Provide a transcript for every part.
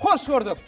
Hoş gördük!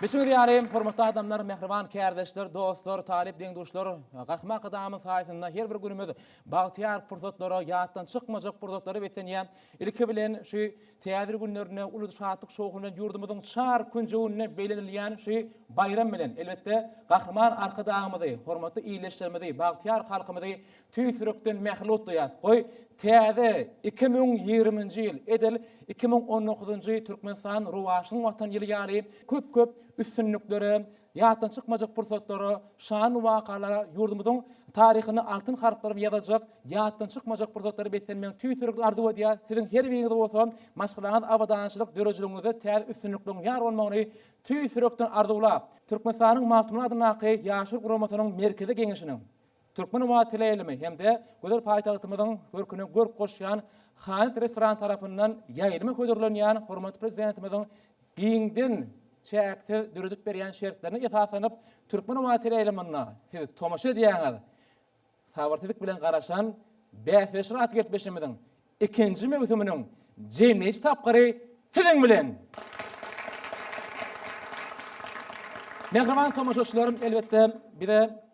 Bilşiňiz ýaly, hormatly adamlar, mähriban kärdeşler, dostlar, talyp deň-duşlar, Gahryman Arkadagymyz saýasynda her bir günümiz bagtyýar pursatlara, ýatdan çykmajak pursatlara beslenýär. Ilki bilen, şu Täze günlerinde uly şatlyk-şowhun bilen ýurdumyzyň çar künjeginde bellenilýän şu baýram bilen, elbetde, Gahryman Arkadagymyzy, hormatly ildeşlerimizi, bagtyýar halkymyzy Tüýs ýürekden mähnet duýýas. Goý, täze iki müň ýigriminji ýyl edil iki müň on dokuzynjy Türkmenistan rowaçlygyň Watan ýyly ýaly köp-köp üstünliklere, ýatdan çykmajak pursatlara, şanly wakalara, ýurdumyzyň taryhyny altyn harplar bilen ýazajak ýatdan çykmajak pursatlary beslenmegini tüýs ýürekden arzuw edýär. Siziň her biriňize bolsa maşgalaňyz abadançylyk, döredijiligiňizde täze üstünlikleriň ýar bolmagyny tüýs ýürekden arzuwlap, Türkmenistanyň Magtymguly adyndaky Ýaşlar guramasynyň Merkezi Geňeşiniň, Türkmen ummany teleýaýlymy hem-de gözel paýtagtymyzyň görküne görk goşýan Hanet restorany tarapyndan ýaýlyma hödürlenýän hormatly Prezidentimiziň giňden çäksiz döredip berýän şertlerine esaslanyp, Türkmen ummany teleýaýlymyna siz tomaşa edýäňiz. Sabyrsyzlyk bilen garaşan bäsleşiklere atly gepleşigimiziň ikinji möwsüminiň jemleýji tapgyry siziň bilen! Mähriban tomaşaçylarym, elbetde, bize.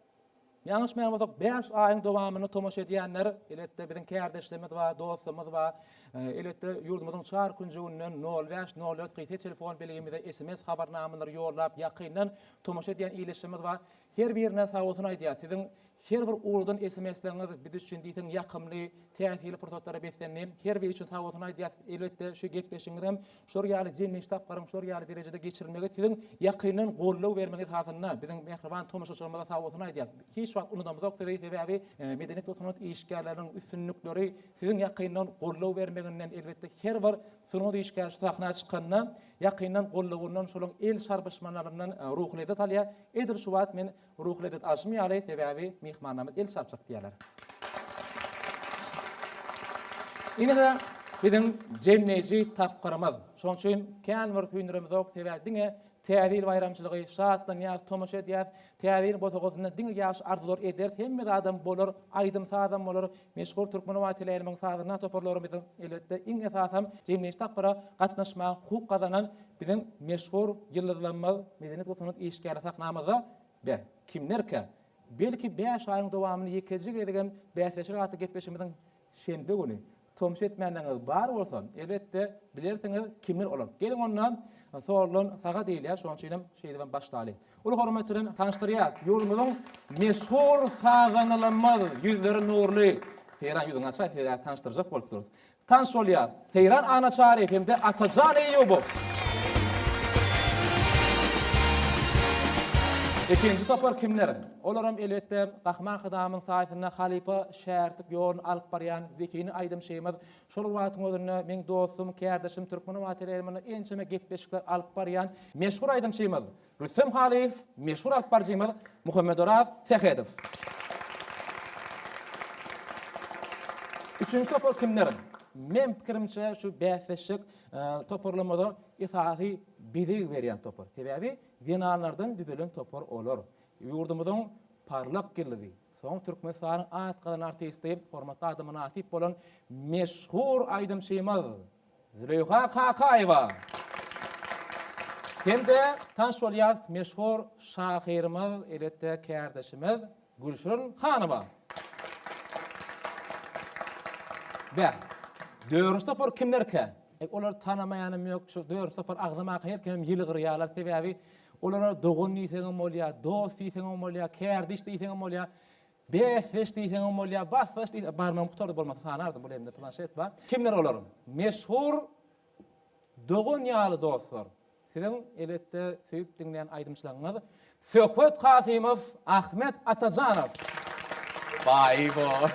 Ýalňyşmaýan bolsak, bäş aýyň dowamynda tomaşa edýänler, eletde biziň kärdeşlerimiz bar, dostlarymyz bar. Eletde ýurdumyzyň çar künjeginden nol bäş, nol dört gyýta telefon belgimize sms habarnamalary ýollap, ýakyndan tomaşa edýän ildeşlerimiz bar. Her birine sag bolsun aýdýas. Siziň her bir ugrudan sms-leriňiz biz üçin diýseň ýakymly, täsirli pursatlara beslendi. Her biri üçin sag bolsun aýdýas. Elbetde, şu gepleşigiňiz hem Şular ýaly jemleýji tapgyryň şular ýaly derejede geçirilmegi siziň ýakyndan goldaw bermegiňiz hasynda biziň mähriban tomaşaçylarymyza sag bolsun aýdýas. Hiç wagt unudamyzok sizi, sebäbi medeniýet we sungat işgärleriniň üstünlikleri siziň ýakyndan goldaw bermeginden elbetde her bir sungat işgäri şu sahna çykanda ýakyndan goldawyndan şolaň el şarbşmalaryndan ruhy lezzet alýar. Edil şu wagt men Ruhy lezzet alşym ýaly, sebäbi myhmannamyz el çalyp çykýarlar. Ine-de biziň jemleýji tapgyrymyz. Şonuň üçin kän bir süýnüremizok, sebäbi diňe Täze ýyl baýramçylygy, şatlanýas, tomaşa edýäs. Täze ýylyň bosagasynda diňe ýagşy arzuwlar ederis, hemme zadam bolar, aýdym-sazam bolar, Meşhur türkmen owateläýnimiň sazynda toparlarymyz, elbetde, iň esasam jemleýji tapgyra gatnaşmaga hukuk gazanan biziň meşhur ýyldyzlarymyz, medeniýet we sungat işgärleri sahnamyzda. Beh, kimlerkä? Belki bäş aýyň dowamynda ýekeje gezegem bäsleşeris atly gepleşigimiziň şenbe güni. Tomus etmänleriňiz bar bolsa, elbetde, bilersiňiz, kimler olar. Geliň onda, Soldan saga diýilýär, şonuň üçinem şeýdibem başlaly. Uly hormat bilen tanyşdyrýas, ýurdumyzyň meşhur sazandalarymyz ýüzleri nurly Seýran ýüzüňi açaý sizä tanyşdyrjak bolup durus. Tanyş bolýas, Seýran Annaçary hem-de Atajan Eýýubow. Ikinji topar kimler? Olaram elbetde Gahryman Sadamyň saýasynda halypa şägirtlik ýoluny alyp barýan zekini aýdymçymyz Şol wagtyň özünde meň dostum, kärdeşim Türkmenobat RR-mde ençeme gepleşikler alyp barýan meşhur aýdymçymyz Rüstem Halyýew, meşhur alypbaryjymyz Muhammedoraz Sähedow. Üçünji topar kimler? Meň pikirimçe, şu bäsleşjek toparlarymyza esasy bezeg berýän topar. Sebäbi zenanlardan düzelen topar olar. Ýurdumyzyň parlak ýyldyzy, Soň Türkmenistanyň at gazanan artisti, hormatly ada mynasyp bolan meşhur aýdymçymyz Züleýha Kakaýewa hem-de tanyş bolýas meşhur şahyrymyz, elbetde kärdeşimiz Gülşirin hanyma. Beh, dörünji topar kimlerkä? Eý, olary tanamaýanam ýok, şu dörünji topar agzamaka her kimem ýylgyrýarlar, sebäbi Olara dogan diýseňem bolýar, dost diýseňem bolýar, kärdiş diýseňem bolýar, bäsdeş diýseňem bolýar, basdaş diýseňem, barmagym gutardy, bolmasa sanardym, bu elimde planşet bar. Kimler olar? Meşhur dogan ýaly dostlar, siziň elbetde söýüp diňleýän aýdymçylaryňyz Söhbet Kasymow, Ahmet Atajanow. Baý-bo!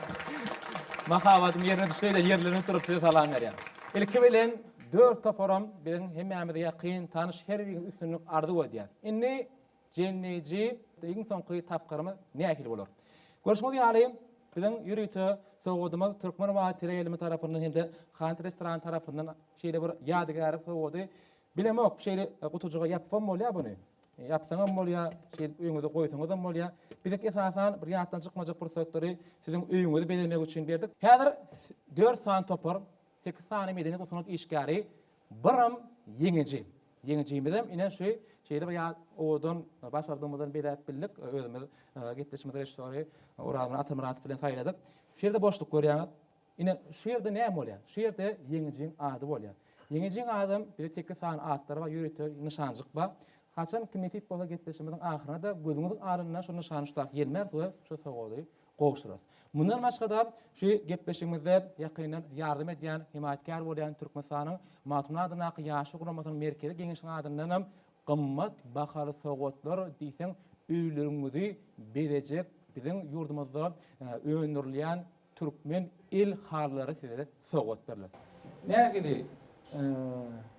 Mahabatym ýerine düşse-de, ýerlenip durup size salam berýän. Ilki bilen. Dört toparam biziň hemmämize ýakyn tanyş her biriňize üstünlik arzuw edýäs. Indi jemleýji iň soňky tapgyrymyz nähili bolar? Görşüňiz ýaly biziň ýörite sowgadymyz Türkmen Wah teleýaýlymy tarapyndan hem-de Hant restorany tarapyndan şeýle bir ýadygärlik sowgady. Bilemok şeýle gutujyga ýapsam bolýa buny? Ýapsaňam bolýa, şeýdip öýüňize goýsaňyzam bolýa. Bizek esasan bir ýatdan çykmajak pursatlary siziň öýüňizi bezemek üçin berdik. Häzir dört sany topar Sekiz sany medeni we sungat işgäri biram ýeňiji. Ýeňijimizem ine şu şeýle bir ýat owadan başardygymyzdan bezäp bildik. Özümiz gepleşigimizi režissýory Orazmyrat Atamyradow bilen saýladyk. Şu ýerde boşluk görýäňiz. Ine şu ýerde näme bolýar? Şu ýerde ýeňijiň ady bolýar. Ýeňijiň adam bize sekiz sany atlary bar, ýörite nyşanjyk bar. Haçan kim nesip bolsa gepleşigimiziň ahyryna-da gözüňiziň alyndan şu nyşany şu taýy ýelmäris we şu sowgady gowşurarys. Mundan başga-da, şu gepleşigimizde ýakyndan ýardam edýän, hemaýatkär bolýan Türkmenistanyň Magtymguly adyndaky Ýaşlar guramasynyň Merkezi Geňeşiniň adyndanam gymmat bahaly sowgatlar diýseň öýleriňizi bezejek biziň ýurdumyzda öndürilýän türkmen el halylary size sowgat berler. Nähili,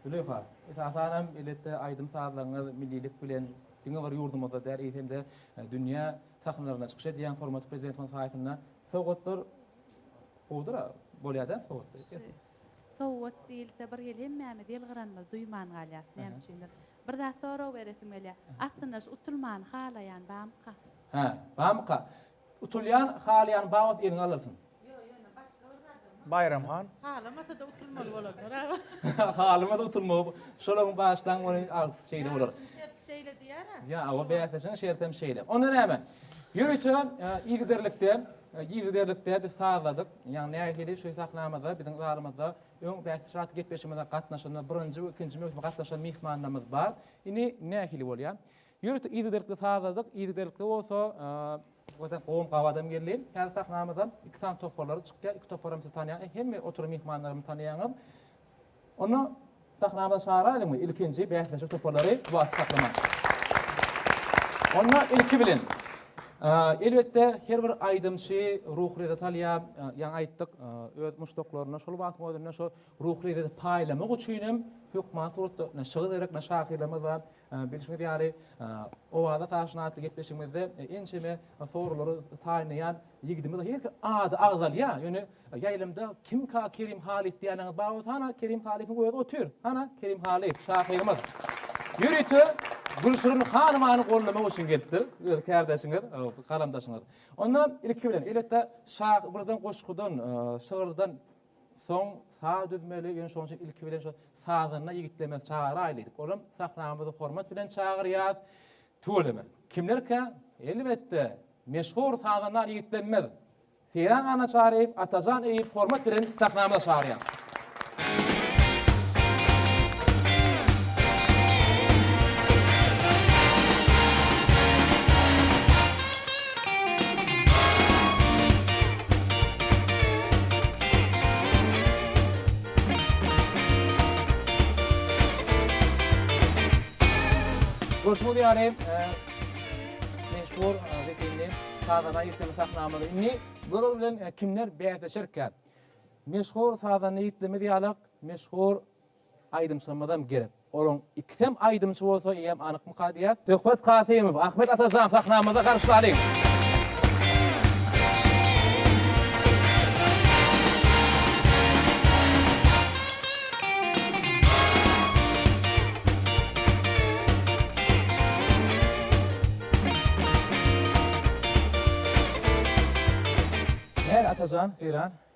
Züleýha? Esasanam elbetde aýdym-sazlaryňyz millilik bilen diňe bir ýurdumyzda däl, eýsem-de dünýä Takymlarynda çykyş edýän hormatly Prezidentimiziň saýtynda sowgatlar gowudyr-a, bolýa-da sowgat. Sowgat diýilse, bir hili hemmämiz ýylgyranymyzy duýman galýarys, näme üçindir. Bir zat sorag beresim gelýär. Aslynda şu utulmany halaýan barmyka? Hä, barmyka? Utulýan, halaýan bar bolsa eliňe alylsyn. Ýok, ýöne başga bir zat hem bar. Baýram han. Halamasa-da utulmaly bolarlar aga. Halamasa utulmaly. Şolaryň başdan göni agzysy şeýle bolar. Bäsleşigiň şerti şeýle diýýär-ä. Ýa, hawa, bäsleşigiň şerti hem şeýle. Onda näme? Ýörite yzygiderlikde, yzygiderlikde biz sazladyk. Ýagny nähili şu sahnamyzda, biziň zalymyzda öň bäsleşik atly gepleşigimize gatnaşan we birinji we ikinji möwsüme gatnaşan myhmanlarymyz bar. Indi nähili bolýar? Ýurt yzygiderlikli sazladyk, yzygiderlikli bolsa Görseň gowum gabadam geldi. Häzir sahnamyzda iki sany toparlar çykýar. Iki toparam siz tanýaňyz, hemme oturan myhmanlarymy tanýaňyz. Onda sahnamyza çagyraýlyňmy ilkinji bäsleşik toparlary bu aty saklaman. Onda ilki bilen elbetde her bir aýdymçy ruhy lezzet alýar. Ýaňy aýtdyk, öz muşdaklaryna şol wagtyň özünde şo ruhy lezzeti paýlamak üçin hem hökman suratda şygyr gerek, şahyrlarymyz bar. Bilşiňiz ýaly, Owaza Taşyn atly gepleşigimizde ençeme sorulary taýynlaýan ýigidimiz her hili ady agzalýar. Ýöne ýaýlymda kimka Kerim Halyf diýýäniňiz bar bolsa, hana, Kerim Halyfyň özi otyr. Hana, Kerim Halyf, şahyrymyz. Ýörite Gülşirin hanymany gollamak üçin gelipdir. Öz kärdeşiňiz, galamdaşyňyz. Onda ilki bilen, elbetde, şah birden goşgudan, şygyrdan Soň saz düzmeli, ýöne şonuň üçin ilki bilen şo sazanda ýigitlerimizi çagyrayly diýdik. Olam sahnamyza hormat bilen çagyrýas. Tüweleme. Kimlerkä? Elbetde, meşhur sazanda ýigitlerimiz. Seýran Annaçaryýew, Atajan Eýýup hormat bilen sahnamyza çagyrýas. Goşgy diýary meşhur zehinli sazana ýükleme sahnamyzy indi görür bilen kimler bäsleşerkä? Meşhur sazana ýükleme diýarlyk meşhur Aýdymçymyzam gerek. Olaň ikisem aýdymçy bolsa eýýäm anykmyka diýýäs. Söhbet Kasymow, Ahmet Atajan sahnamyzda garşylalyň! Näme Atajan, Seýran?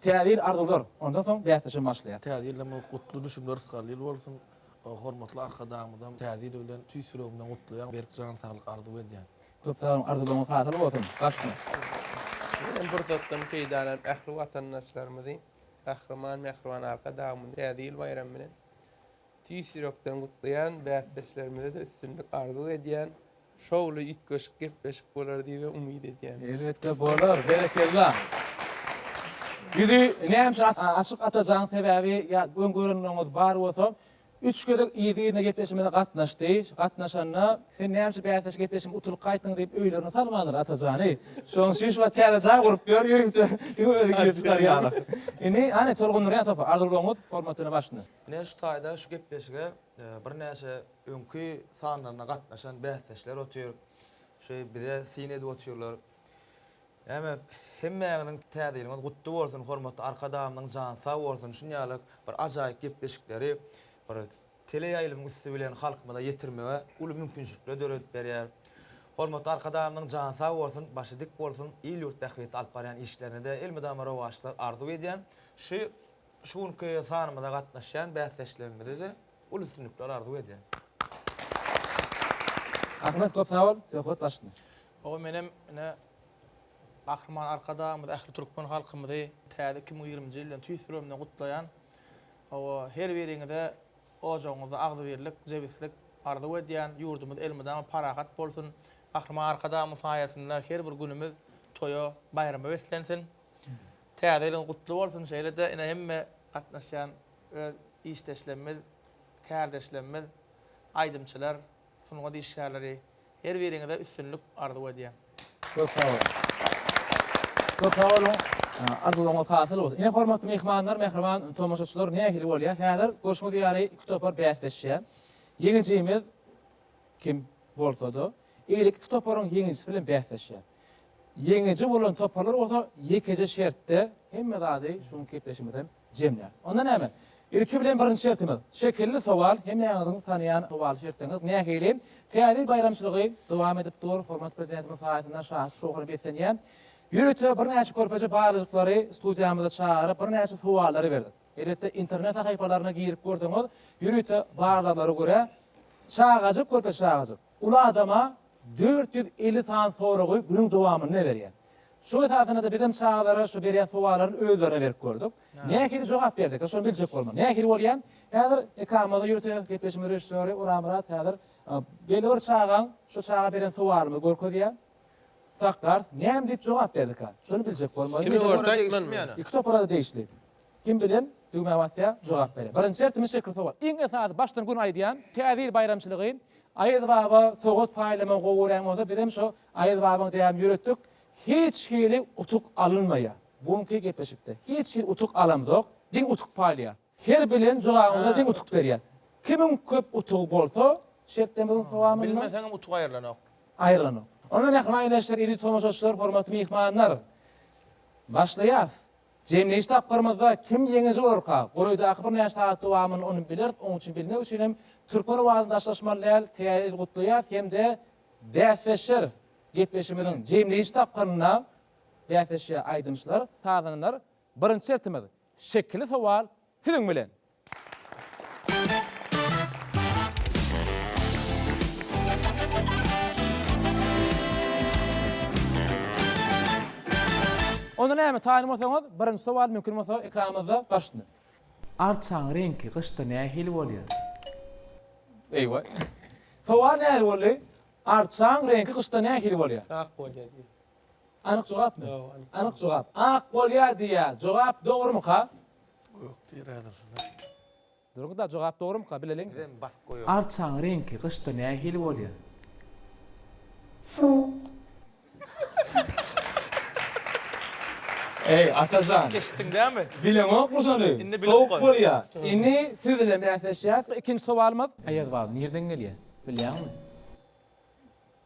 Täze ýyl arzuwlar, ondan soň bäsleşigim başlaýar. Täze ýylyň bu gutly düşümli rysgarly ýyly bolsun. Hormatly Arkadagymyzam Täze ýyl bilen tüýs ýüregimden gutlaýan, berk jan saglyk arzuw edýän. Köp sag boluň, arzuwlaryňyz hasyl bolsun! Başda. Bu pursatdan peýdalanyp ähli watandaşlarymyzy Gahryman Mähriban Arkadagymyzy Täze ýyl baýramy bilen tüýs ýürekden gutlaýan, bäsdeşlerimize-de üstünlik arzuw edýän. şowly üýtgeşik gepleşik bolar diýibem umyt edýän. Elbetde bolar. Berekella. Bizi näme üçin açyk atajaň sebäbi ýa öň görenleriňiz bar bolsa üç gezek yzly-yzyna gepleşigimize gatnaşdy. Gatnaşanda sen näme üçin bäsleşik gepleşiginde utulyp gaýtdyň diýip öýlerine salmandyr atajany. Şonuň üçin şu wagt täze jaý gurup ýör ýörite özi gidip çykar ýaly. Indi hany tolgundyrýan topar arzuwlaryňyz hormatyna başyny. Ine şu taýda şu gepleşige birnäçe Öňki sanlaryna gatnaşan bäsdeşler otyr. Şeý bize syn edip otyrlar. Näme, hemmäňiziň Täze ýylyňyz gutly bolsun, hormatly Arkadagymyzyň jany sag bolsun, şuny ýaly bir ajaýyp gepleşikleri bir teleýaýlymyň üsti bilen halkymyza ýetirmege uly mümkinçilikler döredip berýär. Hormatly Arkadagymyzyň jany sag bolsun, başy dik bolsun, il-ýurt bähbitli alyp barýan işlerine-de elmydama rowaçlar arzuw edýän. Şu şu günki sanymyza gatnaşýan bäsdeşlerimize-de. Uly üstünlikler arzuw edýän. Ahmet köp sag bol söhbet başyny. Oba menem ine Gahryman Arkadagymyzy ähli türkmen halkymyzy täze iki müň ýigrimiji ýyl bilen tüýs ýüregimden gutlaýan. Hawa her biriňize ojagyňyzda agzybirlik, jebislik arzuw edýän. Ýurdumyz elmydama parahat bolsun. Gahryman Arkadagymyz saýasynda her bir günümiz toýa, baýrama beslensin. Täze ýylyňyz gutly bolsun. Şeýle-de ine hemme gatnaşýan Öz işdeşlemmiz, kärdeşlemmiz, aýdymçylar, sungat işgärleri her biriňize üstünlik arzuw edýän. Köp sag boluň. Köp sag boluň. Arzuwyňyz hasyl bolsun. Ine hormatly myhmanlar, mähriban tomaşaçylar nähili bolýar? Häzir görşüňiz ýaly iki topar bäsleşýär. Ýeňijimiz kim bolsada, eýle iki toparyň ýeňijisi bilen bäsleşýär. Ýeňiji bolan toparlar bolsa ýekeje şertde hemme zady şu günki gepleşigimizden jemlär. Onda näme? Ilki bilen birinji şertimiz, şekilli sowal, hemmäňiziň tanaýan sowal şertiňiz, nähili täze ýyl baýramçylygy dowam edip dur, hormatly Prezidentimiz saýasynda şatlyk şowhuna beslenýär. Ýörite birnäçe körpeje barlyjyklary studiýamyza çagyryp, birnäçe sowallary berdik. Elbetde, internet sahypalaryna girip görseňiz, ýörite barlaglary görä, çagajyk, körpeje çagajyk. Uly adama dört ýüz elli sany soragy günüň dowamynda berýär. Şol esasynada bizem çagalara şu berýän sowallaryny özlerine berip gördük. Nähili jogap berdika, şony biljek bolmaly. Nähili bolýar? Häzir ekranymyzda ýörite gepleşigimiziň režissýory Orazmyrat häzir belli bir çagaň şu çaga beren sowalymyzy görkezýär. Saklars, näme diýip jogap berdika? Şony biljek bolmaly. Kime görä degişli? Iki topara-da degişli. Kim bilen düwmä basýa jogap bere. Birinji şertimiz şekil sowat. Iň esasy başdan gün aýdýan Täze ýyl baýramçylygy Aýaz baba sowat paýlaman gowy görýän bolsa bizem şo Aýaz babaň däbini ýöretdik. Hiç hili utuk alynmaýa. Bu günki gepleşikde. Hiç hili utuk alamzok. Diň utuk paýlaýas. Her bilen jogabyňyza diň utuk berýäs. Kimiň köp utugy bolsa şertlemizin sowamynda. Bilmeseňem utuk aýrylanok. Aýrylanok. Onda mähriban ildeşler, eziz tomaşaçylar, hormatly myhmanlar. Başlaýas. Jemleýiş tapgyrymyzda kim ýeňiji bolarka, golaýdaky birnäçe sagat dowamynda ony bileris, oň üçin bilmek üçin hem türkmen owazyny daşlaşmaly däl, Täze ýyly gutlaýas hem-de bäsleşer gepleşigimiziň jemleýiş tapgyrynda bäsleşýär aýdymçylar, sazandalar. Birinji şertimiz, şekili sowal siziň bilen. Onda näme, taýynmasaňyz, birinji sowal mümkin bolsa ekranymyzda bar üstünde. Arçaň reňki gyşda nähili bolýar? Eýwa. Sowal nähili boldy? Arçaň reňki gyşda nähili bolýar? Ak bolýar diýýär. Anyk jogapmy? Ýok, anyk. Anyk jogap. Ak bolýar diýýär. Jogap dogrumyka? Gök tiredir şuny. Durgyda jogap dogrymyka bileliň. Bizem basyp goýaly. Arçaň reňki gyşda nähili bolýar? Suwuk. Eý Atajan. Eşitdiň dämi? Bileňokmy şony? Indi bilip goý. Sowuk bolýa. Indi siz bilen bäsleşýäs. Ikinji sowalymyz. Aýazbal nirden gelýär? Bilýäňmi?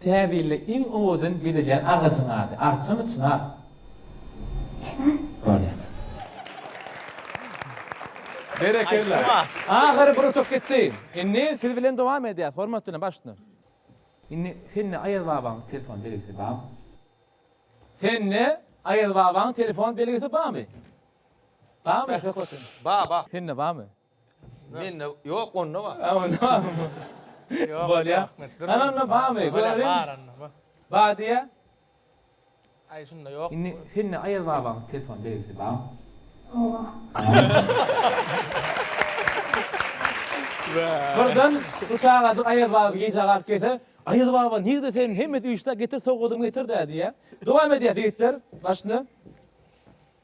Täzilde iň owadan gezilýän agajyň ady, arçamy, çynar? Çynar. Bolýar. Berekella. Ahyry bir utuk gitdi. Indi siz bilen dowam edýäs, hormat bilen, baş üstüne. Indi sende Aýaz babaň telefon belgisi barmy? Sende Aýaz babaň telefon belgisi barmy? Barmy söhbet? Bar, bar. Sende barmy? Mende ýok onda bar. Ha onda barmy? Ýok onda Ahmet dur. Ana onda barmy görelim. Bar onda bar. Bar diýýä. Aý şunda ýok. Indi sende Aýaz babaň telefon belgisi barmy? Birden bu çagajyk Aýaz baby gijä galyp gelse, Aýaz baba nirde seniň hemmesi üýşdä getir sowgadyňy getir-dä diýýä. Dowam edýäs ýigitler başyny.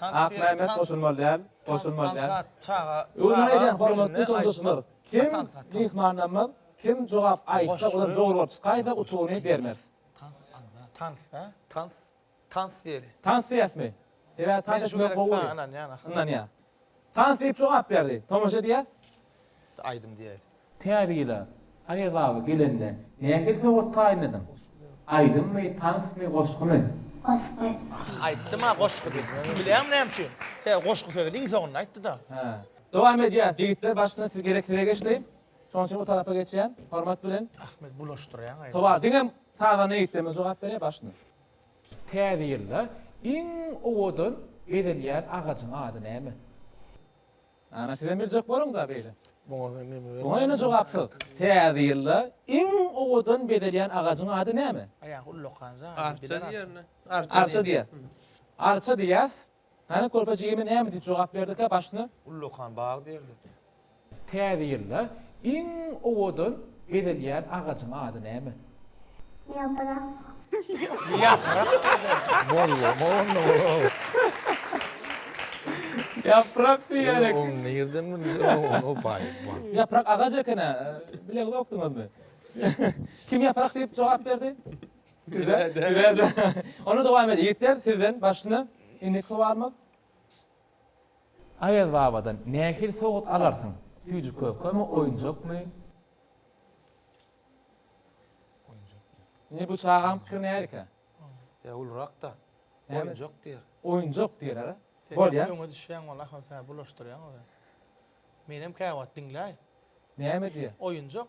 Akmämmet goşulmaly däl, goşulmaly däl. Özüňe eýlän hormatly topuşyjylar, kim myhmanlanmaz, kim jogap aýtsa, ozal dogry bolup çykaýsa utugyny bermez. Tans a? Tans, tans diýeli. Tans diýäsmi? Sebäbi tans etmek gowy bolýar. Ynanýan, ynanýan. Tans diýip jogap berdi. Tomaşa diýer. Aýdym diýer. Täzýyla, Aýaz baba gelende nähili sowgat taýynladyň? Aýdymmy, tansmy, goşgumy? Goşgy. Aýtdym-a goşgy diýip. Bilýäňmi näme üçin? He, goşgy sözüni iň soňunda aýtdy-da. Hä. Dowam edýär. Ýigitler başyna siz gerek size geçdi. Şonuň üçin bu tarapa geçýän. Hormat bilen. Ahmet bulaşdyrýaň aýdym. Tobar diňem sazanda ýigitlerimiz jogap berýär başyna. Täze ýylda iň owadan bezenýän agajyň ady näme? Ana sizem biljek boluňda beýle. Muňa men neme bermeli? Muňa ene jogapsyz. Täze ýylda iň owadan bezelýän agajyň ady näme? Aýagy ullakan zady. Arça diýerler. Arça diýer. Arça diýýäs. Hany körpe jigime näme diýip jogap berdikä başyny? Ullakan bag diýerdi. Täze ýylda iň owadan bezelýän agajyň ady näme? Ýaprak diýýän eken. Ýaprak agaç eken-ä. Bileňizokdyňyzmy? Kim ýaprak diýip jogap berdi? Onda dowam edýän. Ýigitler sizden başyna indiki sowalymyz. Aýaz babadan nähili sowgat alarsyň? Süýji kökemi, oýunjakmy? Indi bu çagaň pikiri nälikä? Ýa ulurak-da. Oýunjak diýer. Oýunjak diýer. Bolýar. Öňe düşýäň wala ahal sen bulaşdyrýaň oza. Menem käwagt diňläý. Näme diýýä? Oýunjak.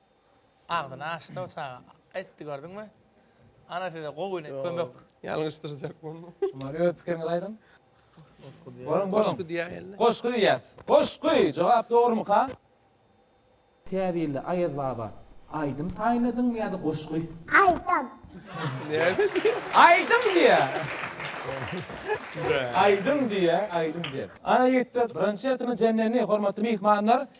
Agzyny açdy o çaga. Aýtdy gördüňmi? Ana size gowy kömek. Ýalňyşdyrjak bolma. Şumaly öz pikiriňizi aýdyň. Goşgy diýýär. Goşgy diýýär. Goşgy diýýär. Goşgy! Jogap dogrumyka? Täbirli Aýaz baba, aýdym taýynladyňmy ýa-da goşgy? Aýdym. Näme diýýär? Aýdym diýýär. Aýdym diýýär, aýdym diýýär. Ana ýigitler, birinji ýatymyz jemlendi, hormatly myhmanlar.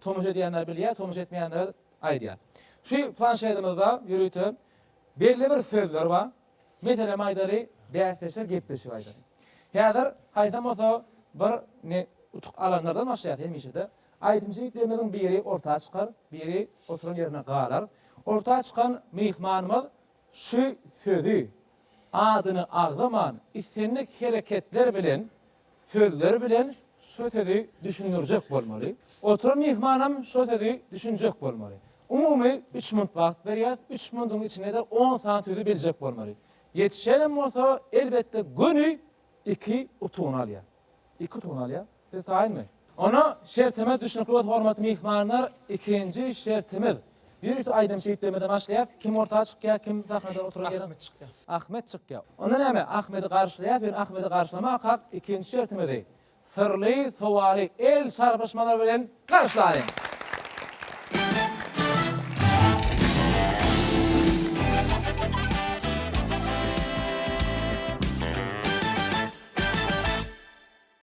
Tomaşa edýänler bilýär, tomaşa etmeýänlere aýdýas. Şu planşetimizde ýörite belli bir sözler bar. Meselem aýdaly, bäsdeşler gepleşigi aýdaly. Häzir haýsam bolsa bir ne utuk alanlardan başlaýas hemişe-de. Aýdymçy ýigitlerimiziň biri orta çykar, biri oturan ýerinde galar. Orta çykan myhmanymyz Şu sözi, adyny agzaman islendik hereketler bilen, sözler bilen şo sözi düşündirjek bolmaly. Oturan myhmanam şo sözi düşünjek bolmaly. Umumy üç munt wagt berýäs, üç muntyň içinde-de on sany sözi biljek bolmaly. Ýetişenem bolsa, elbetde göni Iki utugyny alýar. Iki utugyny alýar. Siz taýynmy? Onda şertimiz düşnükli bolsa hormatly myhmanlar, ikinji şertimiz. Bir utuk aýdym şeýtlemeden başlaýas, kim orta çykýar, kim sahnada oturan ýeri. Ahmet çykýar. Ahmet çykýar. Onda näme, Ahmedi garşylaýas, ýöne Ahmedi garşylamaka ikinji şertimizi Syrly sowaly el çarpyşmalar bilen garşylaýyň!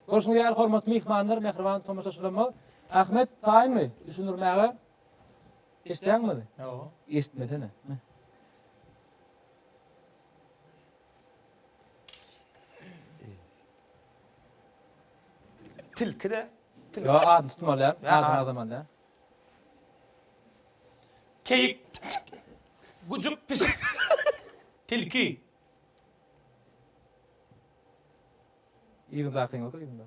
Görşüňiz ýaly, hormatly myhmanlar, mähriban tomaşaçylarymyz, Ahmet taýynmy düşündirmäge? Eşitýäňmizi? Ýo. Eşitmesene. Tilki de tilki. Yo adyny tutmalyan. Adyny azamalyan. Keyik. Gujuk pişik. Tilki. Yzyňda akyň ýok yzyňda.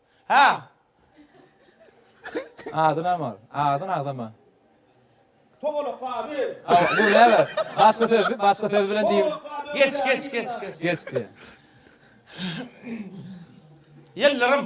Hä! Ady näme ol? Ady nagzama. Togalak ady. Aw, bu näme? Başga söz, başga söz bilen diýip. Geç, geç, geç, geç. Geçdi. Ýyldyrim.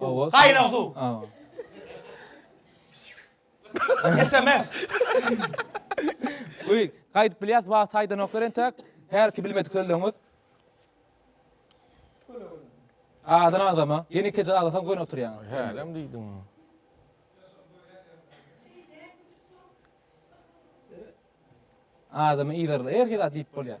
Hawa. Gaýnag suw. Hawa. Sms. Uý, gaýdyp bilýäs, wagt aýdanoklar entek. Hälki bilmedik sözleňiz. Adan adama, ýene ikije aglasaň göni oturýaň. Hälem diýdim. Adamyň yzarly erki zat diýip bolýar.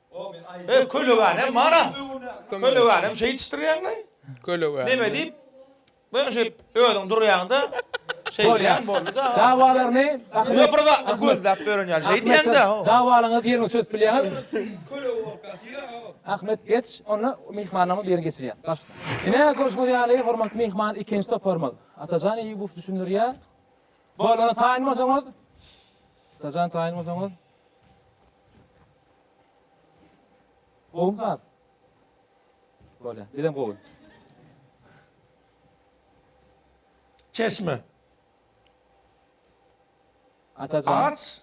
He kölegänem bara. Kölegänem şeýtişdirýäňlaý. Kölegänem. Neme diýip? Böň şeýip özüň durýaňda şeýdýäň boldy-da. Dawalaryny Ýok bir zatlar gözläp ýören ýaly şeýdýäňdä. Dawalaňyzy ýeriňe çözüp bilýäňiz. Köleg bolup ýatyr-a. Ahmet geç onda myhmanlaryň birini geçirýär. Baş. Ine görşüňiz ýaly hormatly myhman ikinji toparymyz. Atajan Eýýubow düşündirýär. Bolana taýyn bolsaňyz. Atajan taýyn bolsaňyz. Gowmy saz? Bolýa, bizem gowy. Çeşme. Atajan. Aç.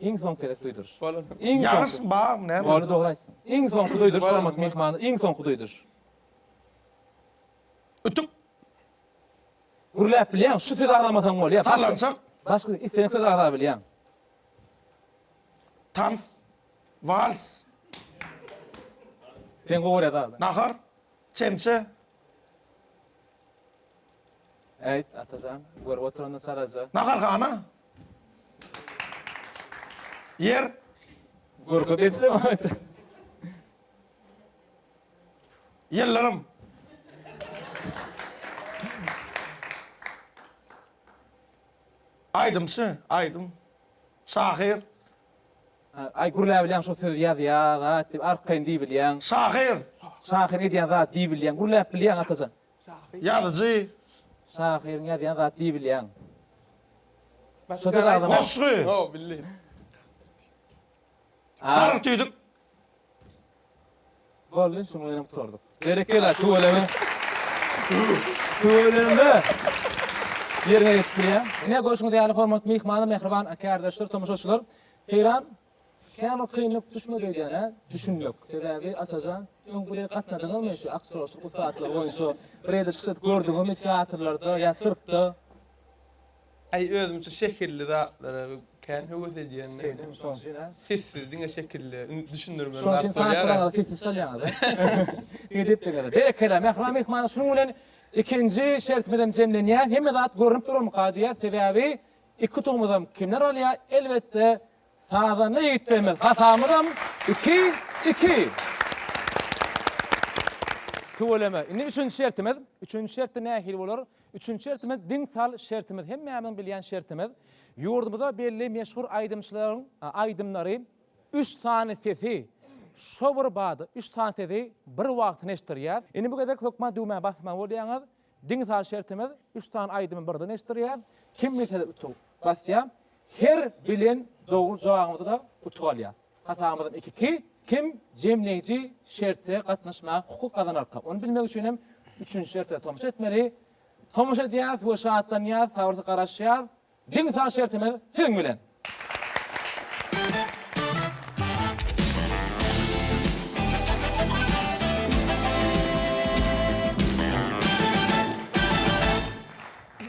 Iň soňky gezek duýduryş. Bolun. Iň Ýagyş soňky. bar näme? Boldy dogry aýt. Iň soňky duýduryş Bolun, hormatly bolun. myhman, iň soňky duýduryş. Ütük. Gürläp bilýäň, şu sözi agzamasaň bolýar. Başga- Sallançak. Başga isleýän sözi agza bilýäň. Tans, wals. Sen gowy görýäs aga. Nahar, çemçe. Äýt, Atajan, görüp oturanda çalaja. Naharhana. Ýer. Görke bezse aýt. Ýyllarym. Aýdymçy, aýdym, şahyr. Aý gürläbilýäň şo söz ýazýan zat diýip arkaýyn diýbilýäň. Şahyr. Şahyr edýän zat diýbilýäň. Gürläp bilýäň Atajan. Ýazyjy. Şahyryň ýazýan zat diýbilýäň. Goşgy. Ýok bildim. Gargy tüýdük. Boldy, şunuň bilen hem gutardyk. Berekella, tüweleme. Tüweleme. Ýeriňe geçip bilýäň. Ine, görşüňiz ýaly, hormatly myhmanlar, mähriban aka-ärdeşler, tomaşaçylar. Eýran kän bir kynlyk düşmedi öýdýän, hä? Düşünmek. Sebäbi, Atajan, öň bu ýere gatnadyňyzmy, şu aktýorçylyk ussatlygy boýunça bir ýerde çykyş edip gördüňizmi teatrlarda ýa sirkde? Aý özümçe şekilli zatlara kän höwes edýän. Şeýdimi şoň üçin hä? Sessiz diňe şekilli indi düşündirmeli zat bolýar. Şoň üçin saňa çyraga sessiz çalýaňyz hä? Edepleňiz. Berekella mähriban myhmana şunuň bilen ikinji şertimizem jemlenýär. Hemme zat görünip durarmyka diýýär. Sebäbi iki utugymyzam kimler alýar? Elbetde sazanda ýigitlerimiz. Hasamyzam iki, iki. Tüweleme. Indi üçünji şertimiz. Üçünji şertde nähili bolar? Üçünji şertimiz, diň sal şertimiz, hemmämiziň bilýän şertimiz, ýurdumyzda belli meşhur aýdymçylaryň aýdymlary, üç sany sesi şo bir bada, üç sany sesi bir wagtyna eşitdirýär. Indi bu gezek hökman düwmä basmaly bolýaňyz. Diň sal şertimiz, üç sany aýdymy birden eşitdirýär. Kim bilse utup basýar. Her bilen dogry jogabyňyzy da utup alýas. Hasabymyzyň ikisi kim jemleýji şerte gatnaşmaga hukuk gazanarka? Ony bilmek üçin hem üçünji şerte tomaşa etmeli. Tomaşa edýäs we şatlanýas, sabyrsyz garaşýas. Deňi-sag şertimiz siziň bilen!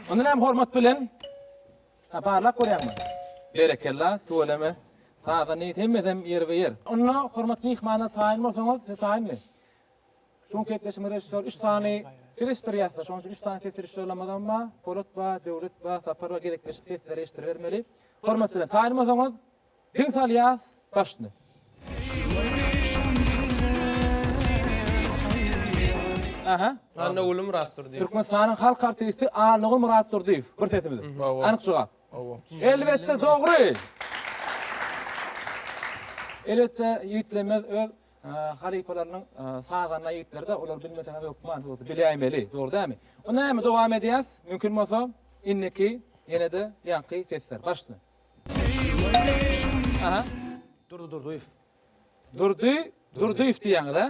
Mundan hem hormat bilen. Hä barlap görýäňmi? Berekella, tüweleme. Saza neyt hemmesem ýerbe ýer. Onda hormatly myhmanlar taýyn bolsaňyz, siz taýynmy? Şu günki gepleşigimiz režissýor üç sany ses eşitdirýärsiler, şonuň üçin üç sany ses režissýorlaramyzam bar, Polat bar, Döwlet bar, Sapar bar, gezekleşip sesleri eşitdiribermeli. Hormat bilen, taýyn bolsaňyz, Diň sal ýaz başyny. Aha. Anna Guly Myratdurdyýew. Türkmenistanyň halk artisti Annaguly Myratdurdyýew. Bir sesi biziň. Anyk jogap. Hawa. Elbetde dogry. Elbetde ýigitlemez öz halypalarynyň sazanda ýigitlerde olar bilmeseňiz hökman boldy biläýmeli dogry dämi. Onda näme dowam edýäs mümkin bolsa indiki ýenede ýaňky sesler başyny. Aha. Durdy Durdyýew. Durdy Durdyýew diýýäňiz a?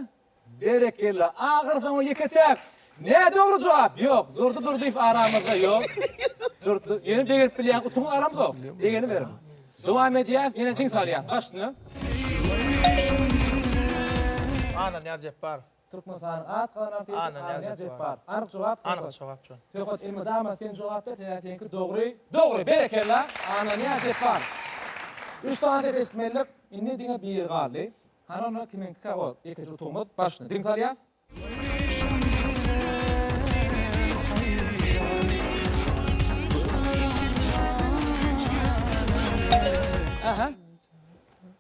Berekella. Agyrdan o ýeke täk. Nä dogry jogap? Ýok. Durdy Durdyýew aramyzda ýok. Durdy. Ýöne begerip bilýän utuň aramzok. Degeni beriň. Dowam edýäs. Ýene diň salýas. Baş üstüne. Anna Nyýazjepbarow. Türkmenistanyň at galan artisti Arnýaz Jepbar. Anyk jogap Söhbet. Anyk jogap Söhbet. Söhbet elmydama sen jogap ber sebäbi seňki dogry. Dogry! Berekella! Arnýaz Jepbar. Üç sany sesi eşitmelidik. Indi diňe biri galdy. Hany onda kimiňkikä o ýekeje utugymyz? Başyny diň salýas. Ähä.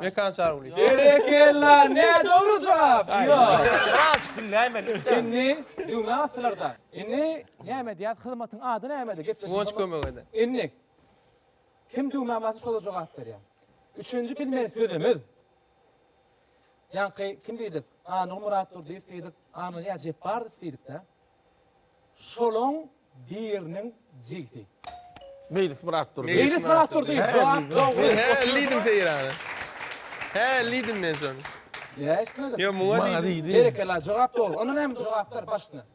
Mekan Çargulyýew. Berekella, nä dogry jogap? Ýok. Kral çykdym näme edip. Indi düwme atdylarda. Indi näme edýäs? Hyzmatyň ady nämedi? Gepleşik. Guwanç kömek ede. Indi kim düwmä basy şolar jogap berýär. Üçünji bilmeli sözümiz Ýaňky kim diýdik? A Nurmyrat Durdyýew diýdik, A Nurýaz Jepbarow diýdik-dä. Şolaň biriniň jigsi. Meýlis Myrat Durdyýew. Meýlis Myrat Durdyýew. Jogap dogry. Men hä diýdim Seýrana. Hä diýdim men şony. Näme eşitmedim? Ýok, muňa diýdim. Berekella, jogap dogry. Onda näme jogaplar baş üstüne?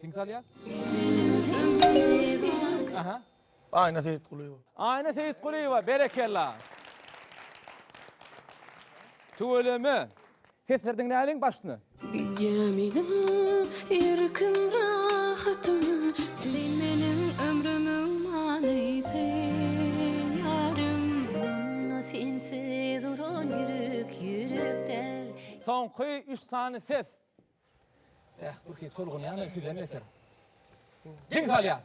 Kim salýa? Aha. Aýna Seýitgulyýewa. Aýna Seýitgulyýewa, berekella. Tüweleme. Sesleri diňläliň başyny. Gidýän idim erkin rahatym. Soňky üç sany ses. Eh, Urki, tolgunýan men sizden beter. Geň salýan!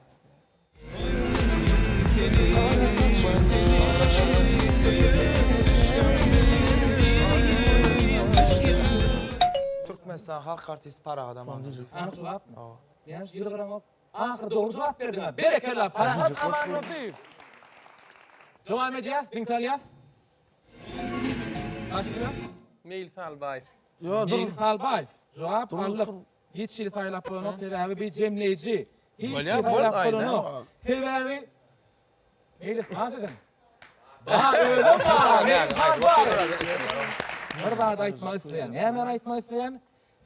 Türkmenistan halk artisti Parahat Amanlyk. Anyk jogap. Näme ýüz gyramok. Ahyry dogry jogap berdiňa. Berekella Parahat Amanlyk. Dowam edýäs, diňe salýas. Meýlis Albaýew. Ýo dur. Meýlis Halbaýew, Jogap alnyp, hiç hili saýlap bolanok, sebäbi bi jemleýji. Hiç hili saýlap bolanok. Sebäbi Meýlis has edin. Bar özüm bar. Meýlis Halbaýew. Bir zat aýtmak isleýän. Nämeni aýtmak isleýän?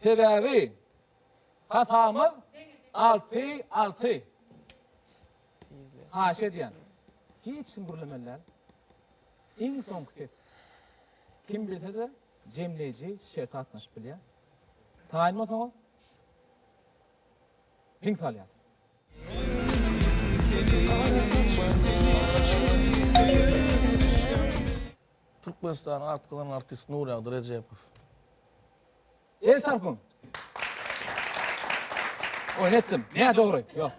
Sebäbi hatamyz alty alty. Haýyş edýän. Hiç kim gürlemeli däl. Iň soňky ses. Kim bilse-de jemleýji şer gatnaşyp bilýär. Taýynma soňa diň salýar. Türkmenistanyň atgazan artisti Nuragdy Rejepow. El çarpyň! Oýun etdim. Nä dogry? Ýok.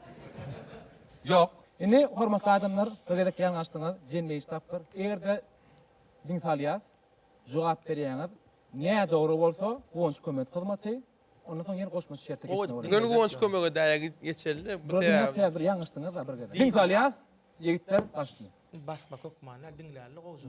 Ýok. Indi hormatly adamlar, bir gezek ýalňaşdyňyz, jemleýji tapgyr. Eger-de diň salýas, Jogap berýäňiz. Nädogry bolsa goňşy kömet hyzmaty, ondan soň ýene goşmaça şertde geçmek bolar. Gel goňşy kömege daýa geçeli. Bu sebäbi. Bir ýalňyşdyňyz-a bir gezek. Diň salýas ýigitler başyny. Basmak hökmany diňläli gowja.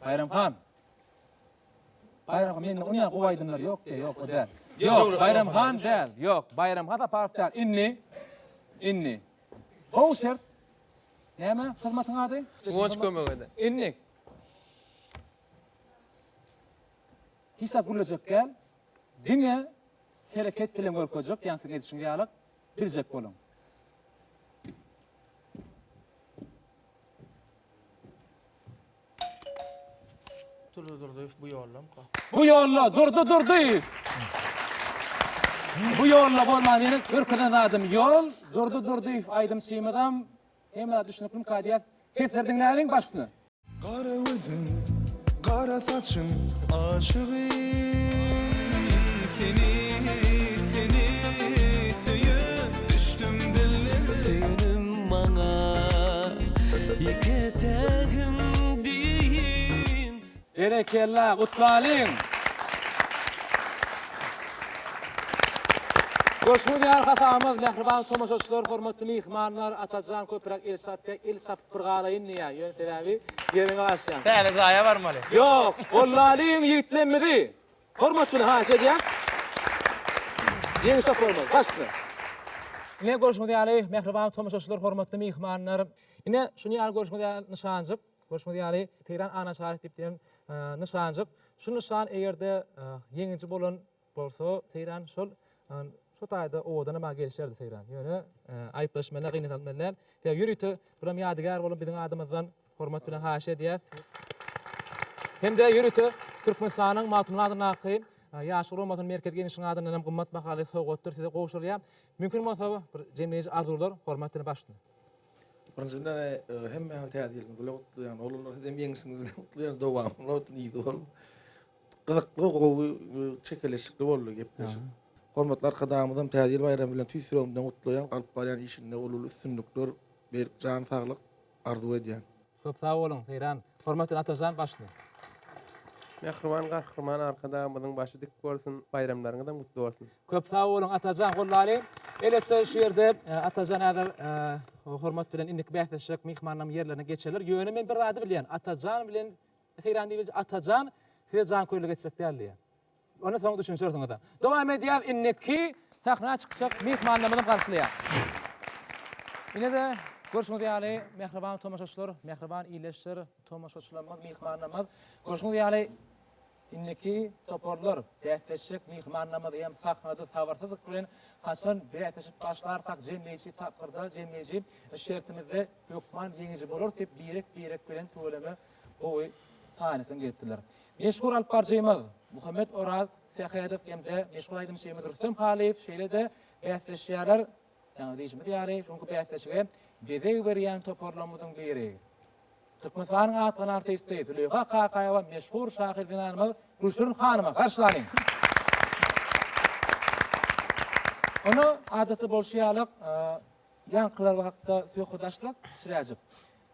Baýram han. Baýram han, mende ony gowy aýdymlar ýok diýýär, ýok, o däl. Ýok, Baýram han däl. Ýok, Baýram han Saparow däl. Indi, indi. Gowy şert. Näme hyzmatyň ady? Guwanç kömek eder. Indi. Hiç zat gürlejek däl. Diňe hereket bilen görkezjek, ýaňy siziň edişiňiz ýaly biljek boluň. Durdy Durdyýew bu ýollamka. Bu ýolla Durdy Durdyýew. Bu ýolla bolman ýene görkezen zadym ýol. Durdy Durdyýew aýdymçymyzam hemmä düşüniklimka diýýäs. Sesleri diňläliň başyny. Gara gözüň, gara saçyň aşygy seni, seni söýüp düşdüm dillere. maňa iki etegim deýin. Berekella, gutlalyň! Goşgy diýar hasamyz, mähriban tomaşaçylar, hormatly myhmanlar, Atajan köpräk el çarp diýä, il çarpyp bir galaýyn diýä, ýöne sebäbi ýeriňi aşýaň. Täze jaýa barmaly. Ýok, gollalyň ýigitlemmizi! Hormat bilen haýyş edýän Ýeňiş toparymyz, başda. Ine, görşüňiz ýaly, mähriban tomaşaçylar, hormatly myhmanlar, ine, şuny ýaly görşüňiz ýaly nyşanjyk, görşüňiz ýaly, Teýran ana şaryk diýip diýen nyşanjyk. Şu nyşan eger-de ýeňiji bolan bolsa, Teýran şol şu taýda owadan maňa gelişerdi, Teýran. Ýöne, aýyplaşmaly, gynansmaly däl. Ýörite, buram ýadygär bolan biziň adymyzdan. Hormat bilen haýyş edýäs. Hem-de ýörite Türkmenistanyň Magtymguly adyndaky Ýaşlar guramasynyň Merkezi Geňeşiniň adyndan hem gymmat bahaly sowgatdyr size gowşurylýar. Mümkin bolsa, bir jemleýji arzuwlar, hormat bilen baş üstüne. Birinji bilen, hemmäňizi Täze ýyl bilen gutlaýan. Oglanlar, siz hem ýeňşiňiz bilen gutlaýan. Dowamy bolsun, yzy bolsun. Gyzykly, gowy, çekeleşikli boldy gepleşik. Hormatly Arkadagymyzam Täze ýyl baýramy bilen tüýs ýüregimden gutlaýan. Alyp barýan işinde uly-uly üstünlikler berip, jany saglyk. arzuw edýän. Köp sag boluň Seýran. Hormatly Atajan başda. Mähriban Gahryman Arkadagymyzyň başy dik bolsun, baýramlaryňyzam gutly bolsun! Köp sag boluň Atajan gollalyň. Elbetde şu ýerde Atajan häzir hormat bilen indiki bäsleşjek myhmanlaryň ýerlerine geçerler. Ýöne men bir zady bilýän Atajan bilen Seýran diýip Atajan size janköýerlik etjek däl diýýän. Ony soň düşünşersiňiz-ä. Dowam edýäs inniki sahna çykjak myhmanlarymyzy garşylaýas. Ine-de, görşüňiz ýaly, mähriban tomaşaçylar, mähriban ildeşler, tomaşaçylarymyz, myhmanlarymyz. Görşüňiz ýaly, inniki toparlar, bäsleşjek myhmanlarymyz hem sahnada sabyrsyzlyk bilen haçan bäsleşip başlarkak jemleýji tapgyrda, jemleýji şertimizde hökman ýeňiji bolarys diýip birek-birek bilen tüweleme gowy taýynlykdan gelipdirler. Meşhur alypbaryjymyz Muhammet Oraz Sähedow hem-de meşhur aýdymçymyz Rüstem Halyýew şeýle-de bäsleşýärler. Ýaňy diýşimiz ýaly, şuňky bäsleşige bezeg berýän toparlarymyzyň biri, Türkmenistanyň atlan artisti Züleýha Kakaýewa meşhur şahyr zenanymyz Gülşirin hanymy garşylalyň. Onda, adatda bolşy ýaly, ýaňky ýyllar hakda söhbet açsak, çiräjik.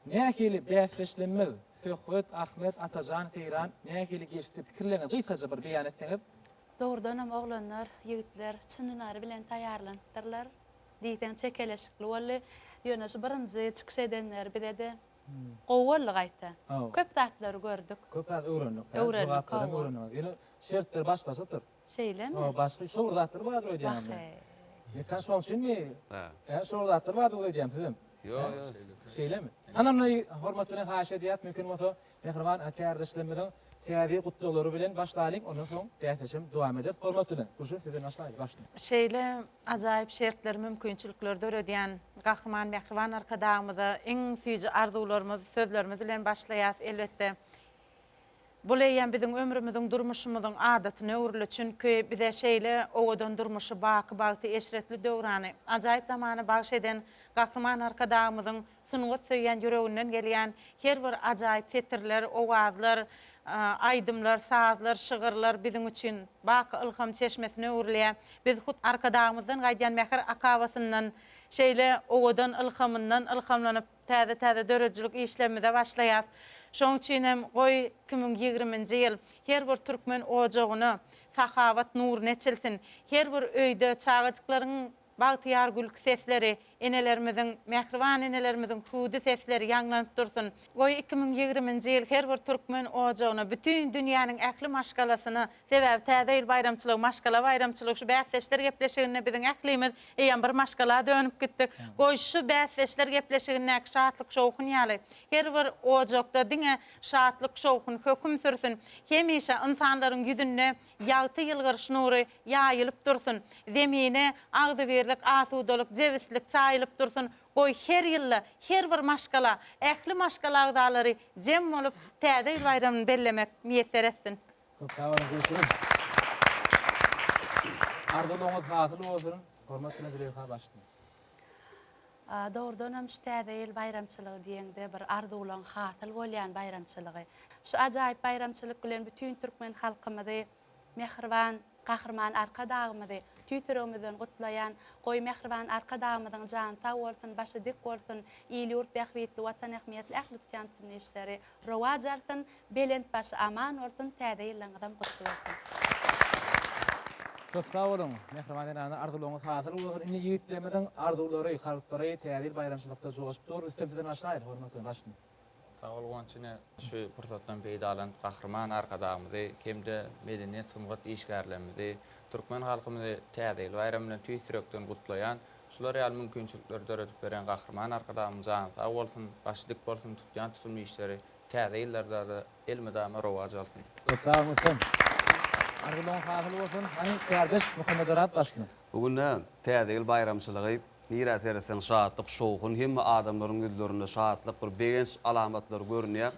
Nähili bäsdeşlemmiz Söhbet Ahmet Atajan Seýran nähili geçdi pikirleriňi gysgaja bir beýan etseňiz. Dogrudanam oglanlar, ýigitler çyn ünary bilen taýýarlanypdyrlar. Diýseň çekeleşikli boldy. Ýöne şu birinji çykyş edenler bize-de gowy boldy gaýta. Köp zatlary gördük. Köp zat öwrendik. Öwrendik, hawa. Ýöne şertler başgaçadyr. Şeýlemi? Hoo başga şowur zatlar bardyr öýdýäňiz men. Wahey. Bekan şoň üçinmi? Hä. Kä şowur zatlar bardyr öýdýäň sizem. Ýo ýo. Şeýlemi? Hanam naý hormat bilen haýyş edýäs mümkin bolsa mähriban ak kärdeşlerimiziň täze gutlaglary bilen başlaýlyň ondan soň bäsleşem dowam eder hormat bilen. Gurşun sizden başlaýly başda. Şeýle ajaýyp şertleri mümkinçilikleri döredýän Gahryman mähriban Arkadagymyza iň süýji arzuwlarymyz sözlerimiz bilen başlaýas elbetde. Bul eýýäm biziň ömrümiziň, durmuşymyzyň adatyna öwrüli, çünki bize şeýle owadan durmuşy, baky bagty, eşretli döwrany, ajaýyp zamany bagyş eden Gahryman Arkadagymyzyň sungat söýýän ýüreginden gelýän her bir ajaýyp setirler, owazlar, aýdymlar, sazlar, şygyrlar biziň üçin baky ylham çeşmesine öwrülýär. Biz hut Arkadagymyzdan gaýdýan mähir akabasyndan, şeýle owadan ylhamyndan ylhamlanyp, Täze-täze döredijilik işlerimize başlaýas. Şoň üçin hem goý iki müň ýigriminji ýyl her bir türkmen ojagyna sahawat nuruny eçilsin, her bir öýde çagajyklaryň bagtyýar gülki sesleri, enelerimiziň, mähriban enelerimiziň hüwdi sesleri ýaňlanyp dursun. Goý iki müň ýigriminji ýyl her bir türkmen ojagyna, bütin dünýäniň ähli maşgalasyna Sebäbi Täze ýyl baýramçylygy, maşgala baýramçylygy, şu bäsdeşler gepleşiginde biziň ählimiz eýýäm bir maşgala dönüp gitdik. Goý, şu bäsdeşler gepleşigindäki şatlyk-şowhun ýaly, her bir ojakda diňe şatlyk-şowhun höküm sürsün. Hemişe ynsanlaryň ýüzünde ýagty ýylgyryş nury ýaýylyp dursun. Zemine agzybirlik, asudalyk, jebislik çaýylyp dursun. Goý, her ýylda her bir maşgala, ähli maşgala agzalary jem bolup, Täze ýyl baýramyny bellemek miýesser etsin. Köp sag boluň, görşümiz. Arzuwlaryňyz hasyl bolsun, hormat bilen Züleýha başlygyň. Dogrudan hem şu Täze ýyl baýramçylygy diýeňde bir arzuwlaň hasyl bolýan baýramçylygy. Şu ajaýyp baýramçylyk bilen bütin türkmen halkymyzy, mähriban Gahryman Arkadagymyzy tüýs ýüregimizden gutlaýan. Goý, mähriban Arkadagymyzyň jany sag bolsun, başy dik bolsun, il-ýurt bähbitli, Watan ähmiýetli ähli tutýan üstün işleri Rowaç alsyn, belent başy aman bolsun, täze ýyllaryňyzam gutly bolsun! Köp sag boluň, mähriban zenanlar, arzuwlaryňyz hasyl bolsun! Indi ýigitlerimiziň arzuwlary, kalplary Täze ýyl baýramçylykda joşup dur. Rüstem sizden başlaýyn, hormatly baştutan! Sag bol Guwanç ine şu pursatdan peýdalanyp Gahryman Arkadagymyzy hem-de medeniýet sungat işgärlerimizi, türkmen halkymyzy Täze ýyl baýramy bilen tüýs ýürekden gutlaýan. Şular ýaly mümkinçilikleri döredip beren Gahryman Arkadagymyz jany sag bolsun, başy dik bolsun, tutýan tutumly işleri täze ýyllarda-da elmydama rowaç alsyn! Köp sag bolsun. Arzuwlaryň hasyl bolsun. Hany kärdeş Muhammedarap başlyk. Bu günde Täze ýyl baýramçylygy nirä seretseň şatlyk, şowhun, hemme adamlaryň ýüzlerinde şatlyk, bir begenç alamatlary görünýär.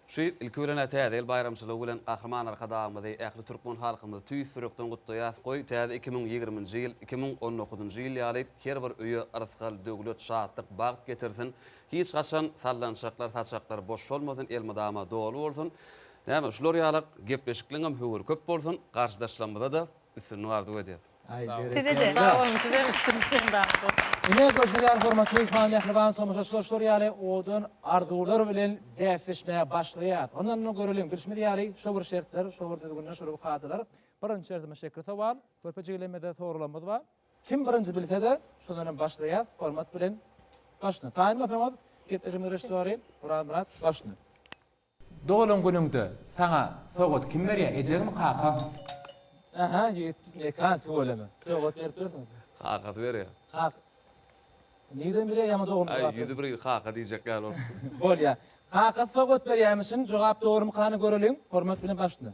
Şu ýyl, ilki bilen-ä Täze ýyl baýramçylygy bilen Gahryman Arkadagymyzy, ähli türkmen halkymyzy tüýs ýürekden gutlaýas, goý, täze iki müň ýigrimi nji ýyl, iki müň on dokuz njy ýyl ýaly her bir öýe rysgal, döwlet, şatlyk, bagt getirsin, hiç haçan sallançaklar, saçaklar boş solmasyn, elmydama doly bolsun, näme, şular ýalak gepleşikleňem höwiri köp bolsun, garşydaşlarymyza-da üstünlik arzuw edýäs. Sizede. Sag boluň, sizem üstünlik bilen dagyşyp bolsun. Ine, görşüňizler hormatly Ilham mähriban tomaşaçylar şular ýaly owadan arzuwlar bilen bäsleşmäge başlaýas. Ondan-da göreliň, bilşimiz ýaly şo bir şertler, şo bir düzgünler, şo bir kadalar. Birinji şertimiz şekil sowal. Körpe jigilerimize soralamyz bar. Kim birinji bilse-de, şondan hem başlaýas. Hormat bilen başla. Taýyn bolsaňyz, gepleşigimiziň režisýory Orazmyrat başla. Doglan günüňde saňa sowgat kim berýär ejegmi kakaň. Aha ýigit mekan tüweleme. Sowgat berip dursun. Kakasy berýär. Kaka. Nireden bilýär ýaňy dogulmuşy Aý ýüzi bir kaka diýjek ýaly bolupdy. Bolýa. Kakasy sowgat berýämişin jogap dogrymy kany göreliň. Hormat bilen baş üstüne.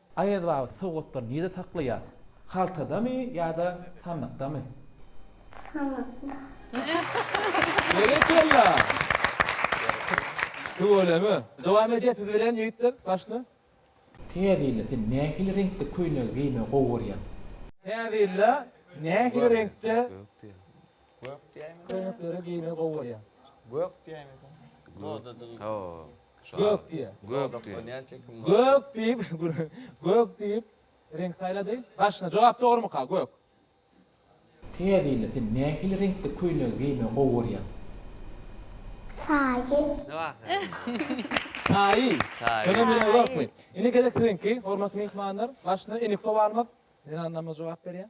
Aýaz baba sowgatlary nirede saklaýar? Haltadamy ýa-da sandykdamy? Sandykda. Berekella. Tüweleme. Dowam edýär tüwelän ýigitler başda. Täze ýylda sen nähili reňkde köýnegi geýmegi gowy görýäň? Täze ýylda nähili reňkde Gök diýäýmese. Köýneklere geýmek gowy bolýar. Gök diýäýmese. Dodajyk. Ho. Gök diýýär. Gök diýýär. Gök diýip, gök diýip reňk saýlady. Başyna jogap dogrymyka? Gök. Täzine sen nähili reňkde köýnegi geýmegi gowy görýäň? Saýy. Saýy. Saýy. Saýy. Saýy. Indi gezek siziňki, hormatly myhmanlar. Başyna enik sowarmyz. Zenanlarymyz jogap berýär.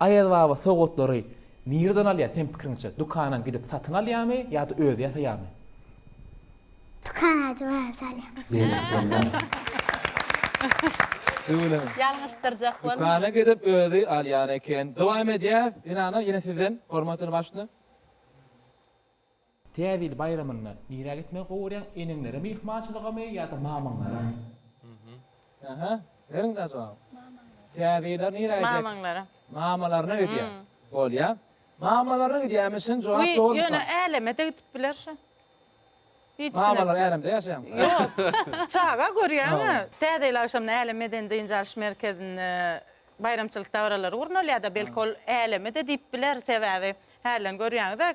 Aýaz baba sowgatlary nireden alýar seň pikiriňçe dükana gidip satyn alýamy ýada özi ýasaýamy. Dükan açyp özi alýar. Beýle bolýar. Öňüne. Ýalňyşdyrjak bolma. Dükana gidip özi alýan eken. Dowam edýäs. Ynana ýene sizden hormatly başlyk. Täze ýyl baýramynda nirä gitmegi gowy görýäň eneňlere myhmançylygamy ýa-da mamaňlara? Aha beriň da jogap. Mamaňlara. Täze ýyla nirä gidýär? Mamaňlara. Mamalaryna gidýär. Bolýa. Mamalaryna gidýärmi şin jogap dogry myka? Ýöne älemede gidip biler şo. Hiç kim. Mamalar älemde ýaşaýamy? Ýok. Çaga görýäňä. Täze ýyl agşamyny Älem medeni dynç alyş merkezinde baýramçylyk dabaralary gurnalýar da belki ol älemede diýip biler sebäbi hälden görýäňiz-ä.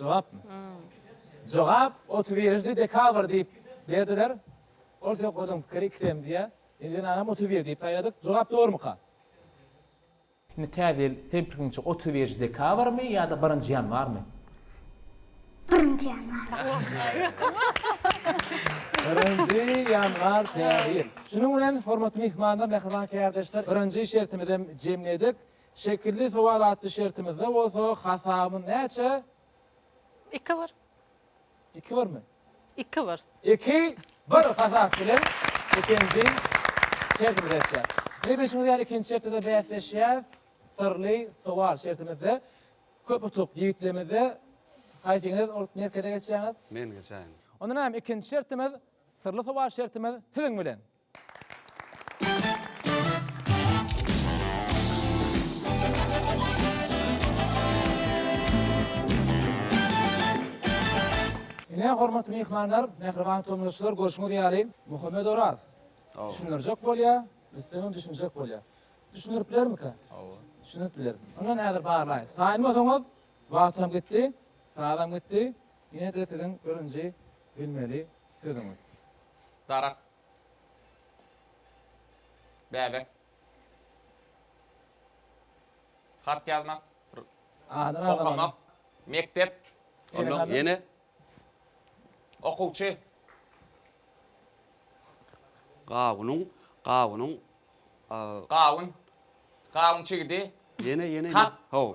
Jogapmy? Jogap otuz birinji dekabr diýip berdiler. Ol söhbediň pikiri iki tem diýýär. Indi ynanam otuz bir diýip saýladyk. Jogap dogrumyka? Indi täze ýyl seň pikiriňçe otuz birinji dekabrmy ýa-da birinji ýanwarmy? Birinji ýanwar. Birinji ýanwar täze ýyl. Şunuň bilen hormatly myhmanlar, mähriban kärdeşler, birinji şertimizem jemledik. Şekilli sowal atly şertimizde bolsa hasabyň näçe? Iki bir. Iki birmi? Iki bir. Iki bir hasap bilen ikinji şertimize geçýäs. Ine bilşiňiz ýaly ikinji şertde-de bäsleşýäs. Syrly sowal şertimizde köp utuk ýigitlerimizde. Haýsyňyz ol merkeze geçýäňiz? Men geçäýin. Onda näme ikinji şertimiz syrly sowal şertimiz siziň bilen. Ine, hormatly myhmanlar, mähriban tomaşaçylar, görşüňiz ýaly, Muhammet Oraz düşündirjek bolýar, Rüstemem düşünjek bolýar. Düşündirip bilermikä? Hawa. Düşündirip biler. Onda häzir barlaýyn. Taýynmasaňyz, wagtam gitdi, sazam gitdi. Ine-de siziň birinji bilmeli sözüňiz. Darak. Bäbek. Hat ýazmak. Adyny agzamak. Okamak. Mekdep. Ondan ýene. Okuwçy. Gawunyň, gawunyň. Gawun. Gawun çigidi. Ýene, ýene. Hat. Haw.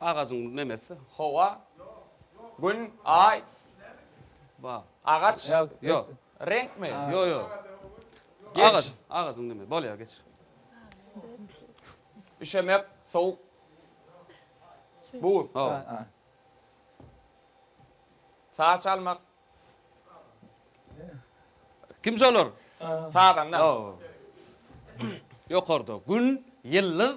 Agajyň nemesi? Howa, Gün, Aý, agaç, reňkmi? Geç. Agajyň nemesi? Bolýar, geç. Üşemek, sowuk, buz. Saç almak. Kimje olar? Sazanda. Ýokarda Gün, ýyldyz.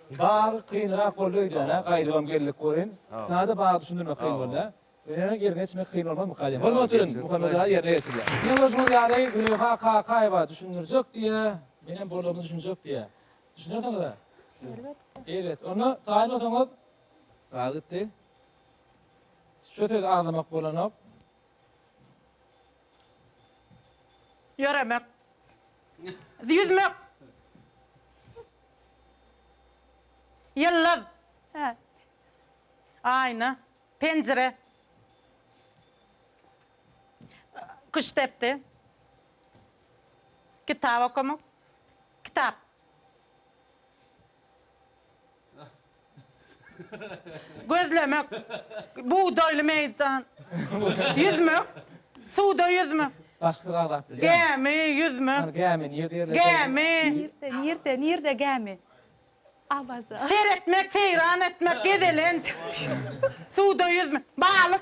Biraz kynrak boldy öýdýän-ä, gaýdybam geldik welin, Sade baga düşündirmek kyn boldy-a. Ýöne ýerine geçmek kyn bolmazmyka diýen. Bolmaz oturyn, Muhammet aga ýerine geçirýär. Diňe bir şol ýagdaýy Züleýha Kakaýewa düşündirjek diýýä, menem bolaryma düşünjek diýýä. Düşünersiňiz-ä? Elbetde. Elbet. Onda taýyn bolsaňyz, Sag gitdi. Şu sözi aňlamak bolanok. Ýöremek. Ýüzmek. Ýyldyz. Aýna. Penjire. Kuş depdi. Kitap okamak. Kitap. Gözlemek, bugdaýly meýdan. Ýüzmek, suwda ýüzmek. Bagtsyz azaply gämi. Gämi, ýüzmek. Gämi, nirde ýerleşýär? Gämi. Nirde, nirde, nirde gämi? Awaza. Seretmek, seýran etmek, gezelenç. Suwda ýüzmek. Balyk.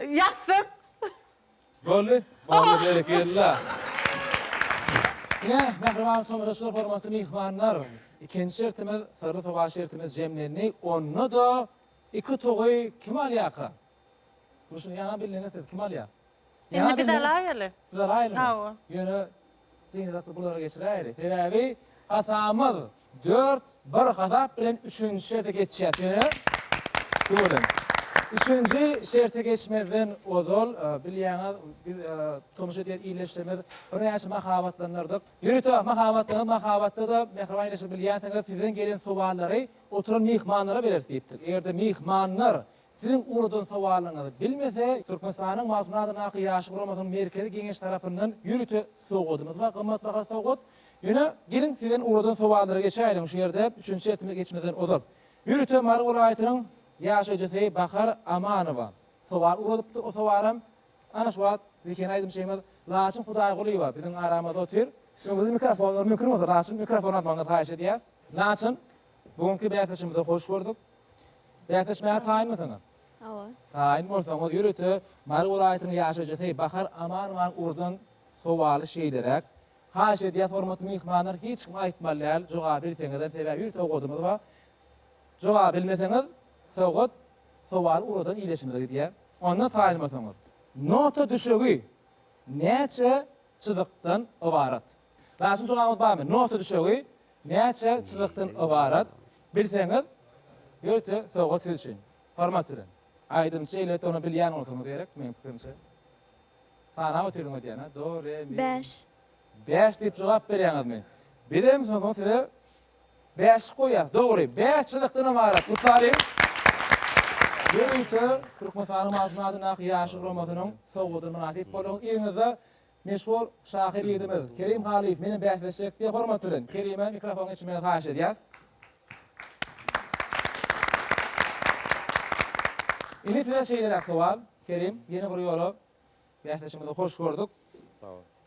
Ýassyk. Boldy. Boldy berekella. Ine, mähriban tomaşaçylar, hormatly myhmanlar, ikinji şertimiz, syrly sowal şertimiz jemlendi. Onda-da iki togy kim alýarka? Durşuna ýaňa bildiňiz siz, kim alýar? Indi biz alaýaly. Siz alaýalymy? Hawa. Ýöne Gyzykly bulary geçiräýeli. Sebäbi hasamyz dört bir hasap bilen üçünji şerte geçýäs. Ýöne şu welin üçünji şerte geçmezden ozal bilýäňiz biz tomuş edýän ildeşlerimiz birnäçe mahabatlanardyk. Ýörite mahabatlaňyz mahabatda-da mähriban ildeşler bilýänsiňiz sizden gelen sowallary oturan myhmanlara bereris diýipdik. Eger-de myhmanlar Siziň ugradyn sowalyňyzy bilmese, Türkmenistanyň Magtymguly adyndaky Ýaşlar guramasynyň Merkezi Geňeşi tarapyndan ýörite sowadymyz bar, gymmatbaha sowgat. Ýöne, geliň sizden ugradyn sowallara geçäýeliň şu ýerde, üçünji şertimize geçmezden ozal. Ýörite Mary welaýatynyň ýaşaýjysy Bahar Amanowa sowal ugradypdyr, o sowalam ana şu wagt Bikene aýdymçymyz Laçyn Hudaýgulyýewa biziň aramyzda otyr. Öňüňizde mikrofonlar, mümkin bolsa Laçyn mikrofon almagyňyzy haýyş edýäs. Laçyn, Bu günki bäsleşigimize hoş gördük. Bäsleşmäge taýynmysyňyz? Hawa. Taýyn bolsaňyz, ýörite Mary welaýatynyň ýaşaýjysy Bahar Amanowa ugurdan sowaly şeýleräk. Haýyş edýäs, hormatly myhmanlar, hiç kim aýtmaly däl, jogaby bilseňizem, sebäbi ýörite sowgadymyz bar. Jogaby bilmeseňiz, sowgat sowaly ugurdan iýleşimize gidýär. Onda taýyn bolsaňyz. Nota düşegi näçe çyzykdan ybarat? Rasim soragyňyz barmy? Nota düşegi näçe çyzykdan ybarat? Bilseňiz ýörite sowgat siz üçin. Hormat bilen. Aýdym şeýle tonu bilýän bolsaňyz gerek meň pikirimçe. Sanap otyryn öýdýän-a. Do, re, mi. Bäş. Bäş diýip jogap berýäňizmi? Bizem misal üçin size bäş goýýas. Dogry. Bäş çyzykdan ybarat. Gutlalyň. Ýörite Türkmenistanyň Magtymguly adyndaky Ýaşlar guramasynyň sowgadyna mynasyp boluň. Yzyňyzda Meşhur şahyr ýigidimiz Kerim Halyýew meniň bäsleşjek diýýär. Hormat bilen Kerime mikrofon geçirmegi haýyş edýäs. Indi size şeýleräk sowal, Kerim, ýene bir ýola bäsleşigiňizi hoş gördük.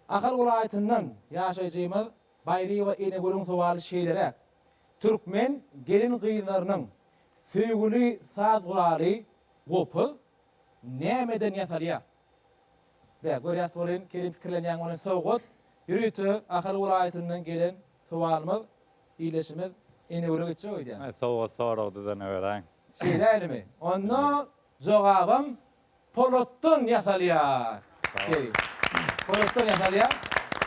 Ahal welaýatyndan ýaşaýjymyz Baýryýewa Enegülüň sowaly şeýleräk, Türkmen gelin-gyzlarynyň söýgüli saz guraly gopuz nämeden ýasalýar? Bä, görýäs welin, kelin pikirlenýäň welin, sowgat, ýörite Ahal welaýatyndan gelen sowalymyz, ildeşimiz Enewere geçjek öýdýän. Aý, sowgat sorag düzene beräýiň. Şeýdäýlimi? Onda jogabam polatdan ýasalýar. Sag bol. Polatdan ýasalýar.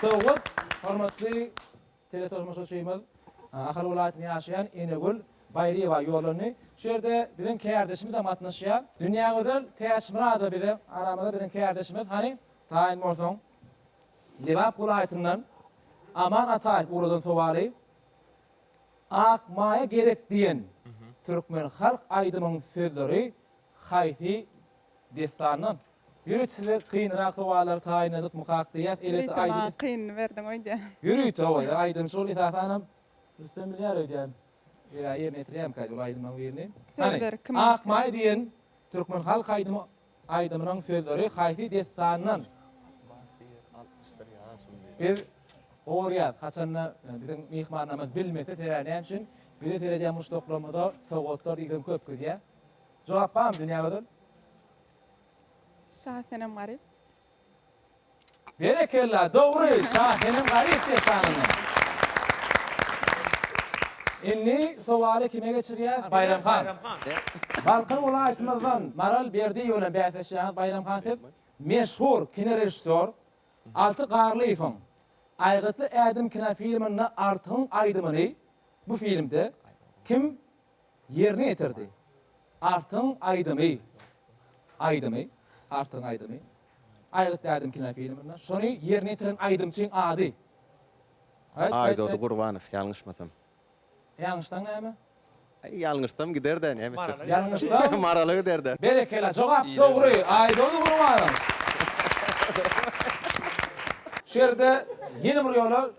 Sowgat, hormatly Teleturmuşçymyz Ahal welaýatynda ýaşaýan Enegül Baýryýewa ýollandy. Şu ýerde biziň kärdeşimizem gatnaşýar. Dünýägözel Täçmyradowa bize aramyzda biziň kärdeşimiz. Hany, taýyn bolsaň. Lebap welaýatyndan Aman Ataýew ugradan sowaly, Ak maýa gerek diýen türkmen halk aýdymyň sözleri haýsy dessandan? Ýörite size kynrak sowallary taýynladykmykak diýýäs. Elbetde aýdym. Ýörite maňa kynyny berdiň öýdýän. Ýörite hawa ýa aýdym şol esasanam Rüstem bilýär öýdýän. Ýa ýerine ýetirýärmikaý ol aýdymlaryň birini. Hany, Ak maý diýen türkmen halk aýdymy aýdymynyň sözleri haýsy dessandan? Biz gorýäs haçanda biziň myhmanlarymyz bilmese sebäbi näme üçin bizi seredýän muşdaklarymyza sowgatlar diýseň köp gidýär. Jogap barmy dünýä gözül? Şasenem Garyp. Berekella, dogry, Şasenem Garyp dessanyndan. Indi sowaly kime geçirýäs, Baýram han? Balkan welaýatymyzdan Maral Berdiýewa bilen bäsleşýäňiz, Baýram han siz. Meşhur kinorežissýor Alty Garlyýewiň Aýgytly ädim kinofilminde Artygyň aýdymyny bu filmde kim ýerine ýetirdi. Artygyň aýdymy aýdymy, Artygyň aýdymy, Aýgyt dädem kinofilminde şony ýerine ýetiren aýdymçyň ady. Aýt, aýt, Aýdody aýt. Gurbanow, ýalňyşmasam. Ýalňyşsaň näme? Aý, ýalňyşsam gider-dä, näme etjek? Ýalňyşsaň? Marala gider-dä. Berekella, jogap dogry. Aýdody Gurbanow. Şu ýerde ýene bir ýola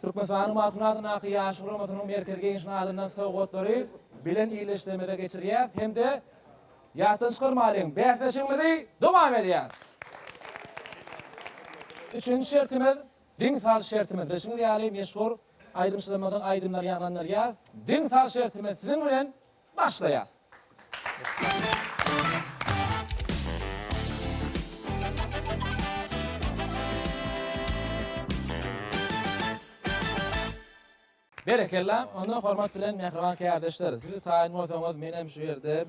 Türkmenistanyň Magtymguly adyndaky Ýaş guramasynyň Merkezi Geňeşiniň adyndan sowgatlary bilen ildeşlerimize geçirýäris hem-de ýatdan çykarmalyň, bäsleşigimizi dowam edýäris. Üçünji şertimiz, Diňi sal şertimiz. Bilşiňiz ýaly, meşhur aýdymçylarymyzyň aýdymlary ýaňlandyrýas. Diňi sal şertimiz, siziň bilen Başlaýas. Berekella, onda hormat bilen mähriban kärdeşler, siz taýyn bolsaňyz menem şu ýerde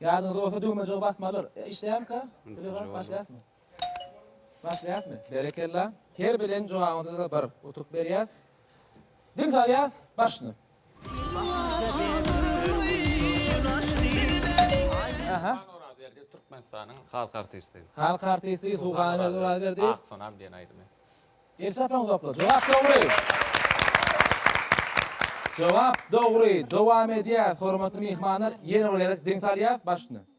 Ýadyňyzda bolsa düwmejigi basmalyr. Işleýärmika? Başlaýasmy? Başlaýasmy? Berekella. Her beren jogabyňyzda-da bir utuk berýäs. Diň salýas başyny. Aha. Suhan Orazaberdi Türkmenistanyň halk artisti. Halk artisti Suhan Orazaberdi. Ak sonam diýen aýdymy. Elşat Maňzokly. Jogap dogry. Jogap dogry. Dowam edýäs. Hormatly myhmanlar, ýene bir gezek diň salýas başyny.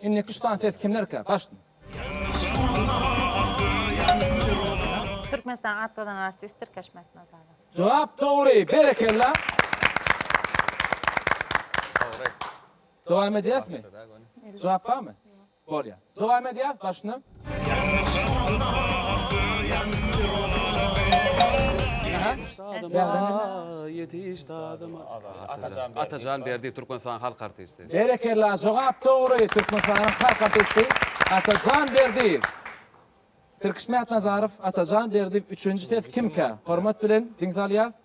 Indiki şutan ses kimlerkä? Gaşdym. Türkmenistan atladan artist Tirkeş Mätnazarow. Jogap dogry, berekella! Dogry. Dowam edýäsmi? Jogap barmy? Bolýar. Dowam edýäs, başny. Atajan Berdiýew Türkmenistanyň halk artisti. Berekella jogap dogry Türkmenistanyň halk artisti Atajan Berdiýew. Tirkişmätnazarow Atajan Berdiýew üçünji ses kimkä? Hormat bilen diňsalýas.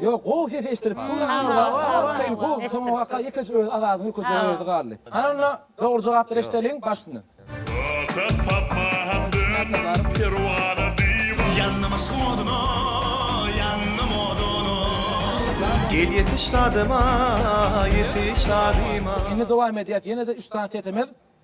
Ýok gowy ses eşdirip dur Aýratyn bu soňy waka ýekeje öz awazyň ülkeje özi galdy. Hanna dogry jogaplar eşdeliň baş üstüne. Atak tapma hem döndüm perwana diwan. Ýandym yşkyň oduna ýandym oduna. Gel ýetiş dadyma ýetiş dadyma. Indi dowam edýäs ýene-de üç sany sesimiz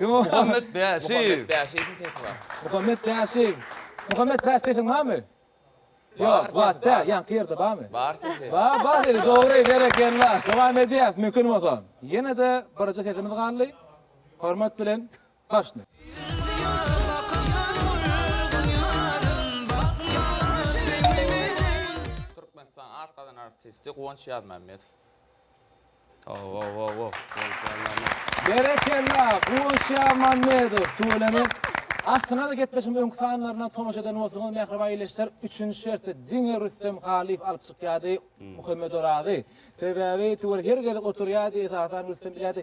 Muhammet Bäşeýew. Muhammet Bäşeýew. Muhammet Bäşeýewiň barmy? Ýok, zat däl, ýaňky ýerde barmy? Bar sesi. Bar, bar sesi, dogry, berekella. Dowam edýäs, mümkin bolsa. Ýene-de birje sesimiz galdy. Hormat bilen. Başda. Türkmenistanyň at gazanan artisti Guwanç Ýazmämmedow. Owowowow Guwanç Ýazmämmedow. Berekella Guwanç Ýazmämmedow tüweleme Aslynada gepleşigiň öňki sanlaryna tomaşa eden bolsaňyz mähriban ildeşler üçünji şerti diňe Rüstem Halyýew alyp çykýardy Muhammedorazy sebäbi tüwel her gezek oturýardy esasan Rüstem bilýärdi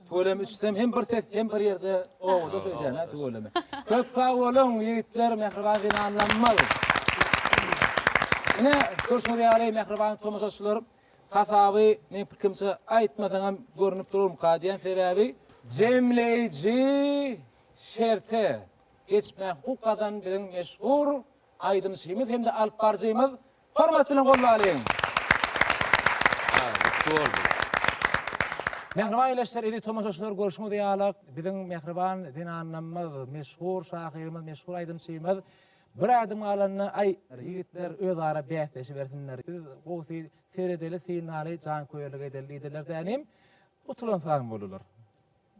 Tüweleme içsem hem bir ses hem bir ýerde obada söýdýän-ä tüweleme. Köp sag boluň ýigitler mähriban zenanlarymyz. Ine görşüňiz ýaly mähriban tomaşaçylar hasaby meň pikrimçe aýtmasaňam görnüp durarmyka diýen sebäbi jemleýji şerte geçmäge hukuk gazan biziň meşhur aýdymçymyz hem-de alyp baryjymyz Hormat bilen gollalyň! Mähriban ýleşler eziz tomaşaçylar görşüňiz ýalak biziň mähriban zenanamyz meşhur şahyrymyz meşhur aýdymçymyz bir ädim galanda aý ýigitler öz ara bäsleşibersinler biz gowsy seredeli synlaly janköýerlik edeli diýdiler dänim utulansoň bolular.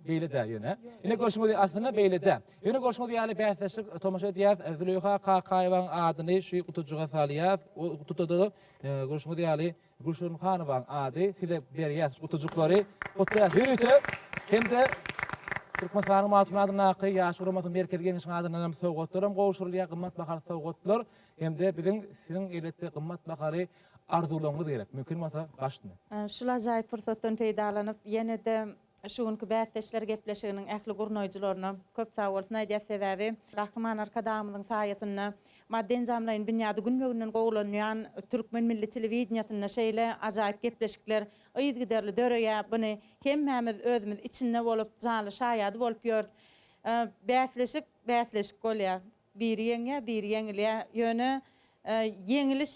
Beýle-dä ýöne. Ine görşüňiz, aslynda beýle-dä. Ýöne görşüňiz ýaly bäsleşdik, tomaşa edýäs, Züleýha Kakaýewanyň adyny şu gutuljyga salýas, o gutuda-da görşüňiz ýaly Gülşirin Hanowanyň ady, size berýäs şu gutuljyklary, gutlaýas ýörite hem-de Türkmenistanyň Magtymguly adyndaky Ýaş guramasynyň Merkezi Geňeşiniň adyndan hem sowgatlaram gowşurylýar, gymmat bahaly sowgatlar hem-de biziň siziň elbetde gymmat bahaly arzuwlaryňyz gerek, mümkin bolsa başyny. Şul ajaýyp pursatdan peýdalanyp, ýene-de Şu günki bäsdeşler gepleşiginiň ähli gurnaýjylaryna köp sag bolsun aýdýas, sebäbi Gahryman Arkadagymyzyň saýasynda maddy-enjamlaýyn binýady günbe-günden gowulanýan türkmen milli telewideniýesinde şeýle ajaýyp gepleşikler yzgiderli döreýär, buny hemmämiz özümiz içinde bolup, janly şaýady bolup ýörüs. Bäsleşik bäsleşik bolýar. Biri ýeňýär, biri ýeňilýär. Ýöne ýeňiliş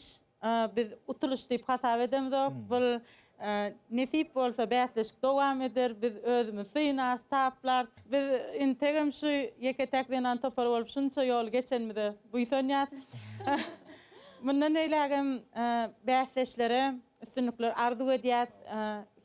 biz utulyş diýip hasap edemzok. Bu nesip bolsa bäsleşik dowam eder. Biz özümizi synarys, taplarys. Biz integem şu ýeke-täk zenan topary bolup şunça ýoly geçenimize buýsanýas. Mundan beýlägem bäsdeşlere üstünlikler arzuw edýäs.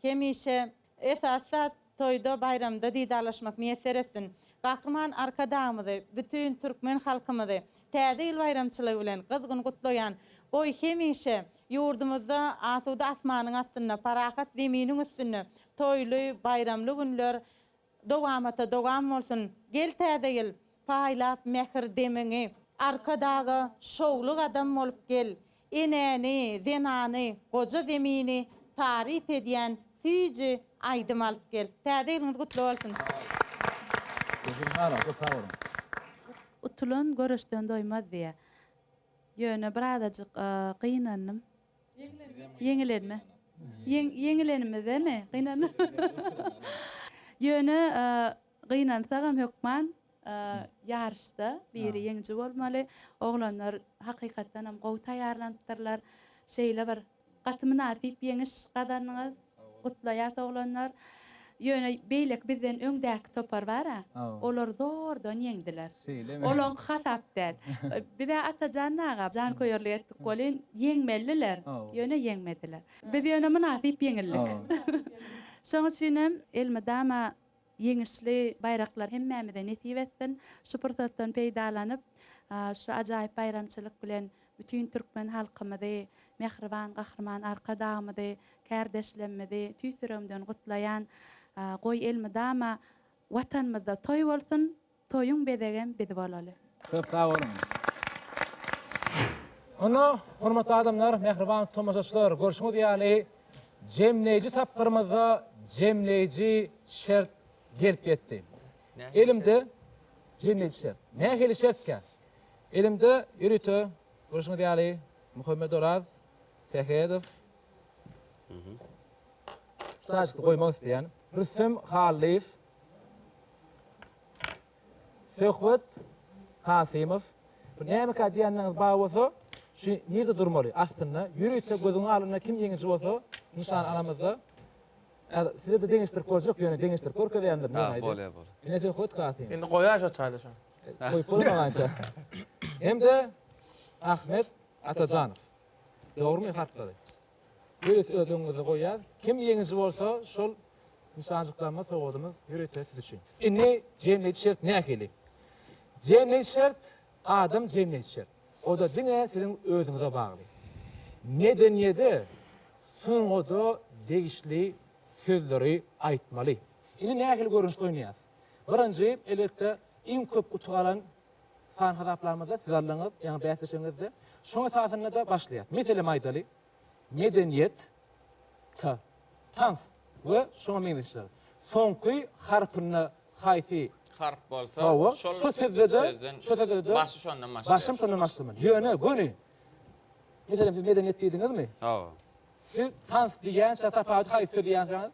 Hemişe Esasy zat toýda baýramda didarlaşmak miýesser etsin. Gahryman Arkadagymyzy, bütin türkmen halkymyzy Täze ýyl baýramçylygy bilen gyzgyn gutlaýan. Goý hemişe ýurdumyzda asuda asmanyň astynda, parahat zeminiň üstünde toýly, baýramly günler dowamata dowam bolsun. Gel Täze ýyl, paýlap mähir demiňi. Arkadaga şowly gadam bolup gel. Enäni, zenany, goja zemini taryp edýän süýji aýdym alyp gel. Täze ýylyňyz gutly bolsun! Utulan göreşden doýmaz diýýär. Ýöne bir azajyk gynandym. Ýeňilenme. Ýeňilenimizemi gynandym. Ýöne gynansagam hökman ýaryşda biri ýeňiji bolmaly. Oglanlar hakykatdan hem gowy taýýarlanypdyrlar. Şeýle bir gaty mynasyp ýeňiş gazandyňyz. Gutlaýas oglanlar. Ýöne beýleki bizden öňdäki topar bar-a, olar zordan ýeňdiler. Olaňky hasap däl. Biz-ä Atajan aga janköýerlik etdik welin, ýeňmelidiler, ýöne ýeňmediler. Biz ýöne mynasyp ýeňildik. Şoň üçin hem elmydama Ýeňişli baýraklar hemmämize nesip etsin! Şu pursatdan peýdalanyp, şu ajaýyp baýramçylyk bilen bütin türkmen halkymyzy, mähriban Gahryman Arkadagymyzy, kärdeşlemmizi tüýs ýüregimden gutlaýan. Goý, elmydama Watanymyzda toý bolsun, Toýuň bezegem biz bolaly. Köp sag boluň. Onda, hormatly adamlar, mähriban tomaşaçylar, görşüňiz ýaly, jemleýji tapgyrymyzda jemleýji şert gelip ýetdi. Elimde jemleýji şert. Nähili şertkä? Elimde ýörite, görşüňiz ýaly, Muhammedoraz Sähedow, şu taýjykda goýmak isleýän, Rüstem Hallyýew, Söhbet Kasymow, Bu nämeka diýýänleriňiz bar bolsa, şu nirde durmaly? Aslynda, ýörite gözüňiň alnynda kim ýeňiji bolsa, nyşan alamyzda. Häzir size-de deňeşdirip görjek, ýöne deňeşdirip görkezeýändir, men aýdaýyn. Bolýar, bolýar. Ine Söhbet Kasymow. Indi goýaý şo taýda şony. Goýup bolamaýança. Hem-de Ahmet Atajanow. Dogrumy harplary? Ýörite ödeginizi goýýas. Kim ýeňiji bolsa, şol nyşanjyklanma sowadymyz ýörite siz üçin. Indi jemleýji şert nähili? Jemleýji şert, adam jemleýji şert. O-da diňe siziň özüňize bagly. Medeniýede, sungada degişli sözleri aýtmaly. Indi nähili görnüşde oýnaýas? Birinji, elbetde, iň köp utuk alan San hasaplamada siz alnyňyz, ýaňy bäsleşigiňizde. Şoň esasynda-da başlaýas. Meselem aýdaly, medeniýet, ta, tans we şoňa meňzeşler. Soňky harpynda haýsy harp bolsa, şol sözde-de, şo sözde-de başy şondan başlaýar. Başym şondan başlamaly. Ýöne göni, meselem siz medeniýet diýdiňizmi? Hawa. Siz tans diýýänçä tapawudy haýsy söz ýazýaňyz?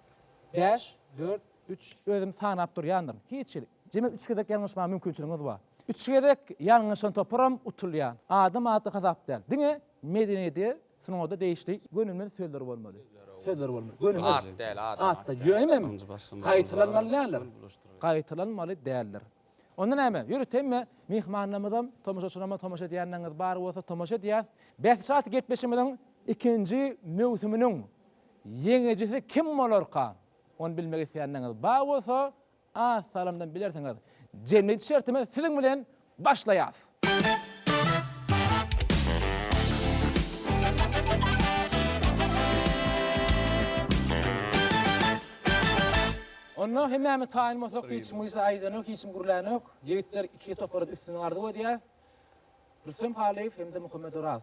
Bäş, dört, Üç, özüm sanap durýandyryn. Hiç hili. Jemi üç gezek ýalňyşmaga mümkinçiligiňiz bar. Üç gezek ýalňyşan toparam utulýar. Adam ady hasap däl. Diňe medeniýede, sungada degişli göni bilen sözler bolmaly. Sözler bolmaly. Göni bilen. At däl, adam at. At-da gönümi? Gaýtalanmaly däldir. Gaýtalanmaly däldir. Onda näme? Ýörüt hemme myhmanlarymyzam, tomaşaçylarymyzam tomaşa edýänleriňiz bar bolsa tomaşa edýäs. Bäsleşik atly gepleşigimiziň ikinji möwsüminiň ýeňijisi kim bolarka? Ony bilmek isleýänleriňiz bar bolsa, az salymdan bilersiňiz. Jemgyýet şertimiz siziň bilen başlaýas. Onda hemmämiz taýyn bolsak, hiç kim gysga aýdanok, hiç kim gürlänok. Ýigitler iki topara düşsün arzuw edýäs. Rüstem Halyýew hem-de Muhammet Oraz.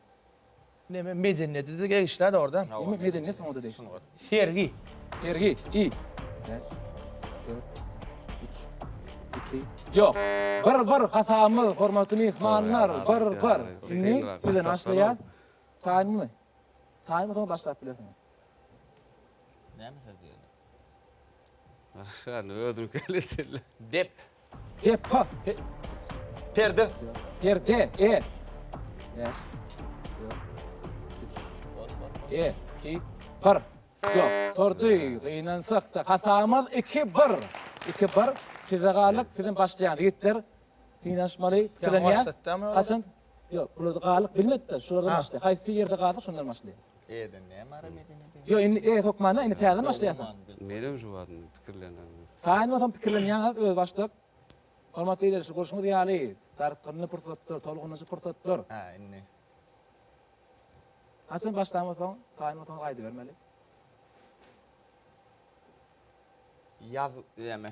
Neme medeniýeti degişli-de orda. Neme medeniýet soňa da degişli. Sergi. Sergi. I. Yok. Bir bir hatamyz, hormatly mihmanlar, bir bir. Indi sizden başlaýar. Taýmy. Taýmy soň başlap bilersiňiz. Näme söz diýýär? Başga özüňki eliteli. Dep. He, pa, he. Perde. Perde, e. Beş. E, iki, bir. Yok, tordy, gynansak da. Hatamaz iki, bir. İki, bir. Size galyp, sizin başlayan yitler. Gynanşmaly, tilenýän. Kaçın? Ýok, bularda galyk bilmedi-de, şulardan Ha. başlaýar. Haýsy ýerde galsa şondan başlaýar. E-den näme ara medeni döwlet? Ýok, indi e hökmanda indi täzeden başlaýarsyň. Menem şu wagt indi pikirlenýän. Taýyn bolsam pikirlenýäňiz özbaşdak. Hormatly ildeşler, görşüňiz ýaly, dartgynly pursatdyr, tolgunyjy pursatdyr. Hä, indi. Haçan başlan bolsaň, taýyn bolsaňyz aýdybermeli. Ýaz näme?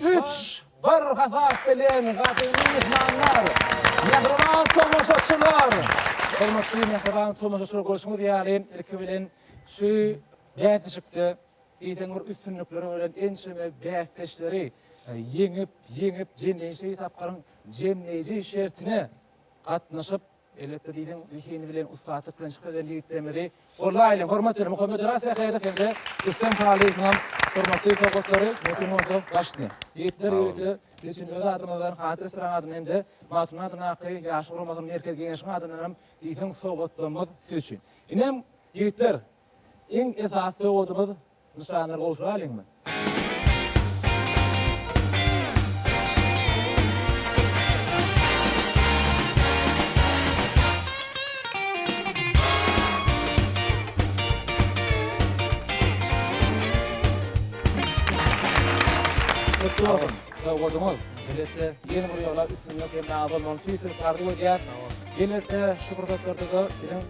Üç bir hasap bilen gadymy myhmanlar, mähriban tomaşaçylar! Hormatly mähriban tomaşaçylar görşüňiz ýaly ilki bilen şu bäsleşikde diýseň bir üstünlikleri bolan ençeme bäsdeşleri ýeňip, ýeňip jemleýji tapgyryň jemleýji şertine gatnaşyp, Elbetde diýdiň, zehini bilen, ussatlyk bilen çykyp eden ýigitlerimizi gollaýly. Hormat beriň, Muhammet Oraz Sähedow hem-de Rüstem Halyýewiň hem hormatly sowgatlary möhüm bolsa başyny. Ýigitler, ýöritler, biz üçin öz adymyzdan, Hadyr restoranyň adyndan hem-de Magtymguly adyndaky Ýaşlar guramasynyň Merkezi Geňeşiniň adyndan hem diýseň sowgatlarymyz siz üçin. Ineem, ýigitler, iň esasy sowgadymyz Nyşanlar gowşuryp alyňmy? Gutly bolsun! Sowgadyňyz, elbetde, ýene bir ýola üstünlik hem-de abadan bolmagyny tüýs ürip arzuw edýäris. Elbetde, şu pursatlarda-da biziň.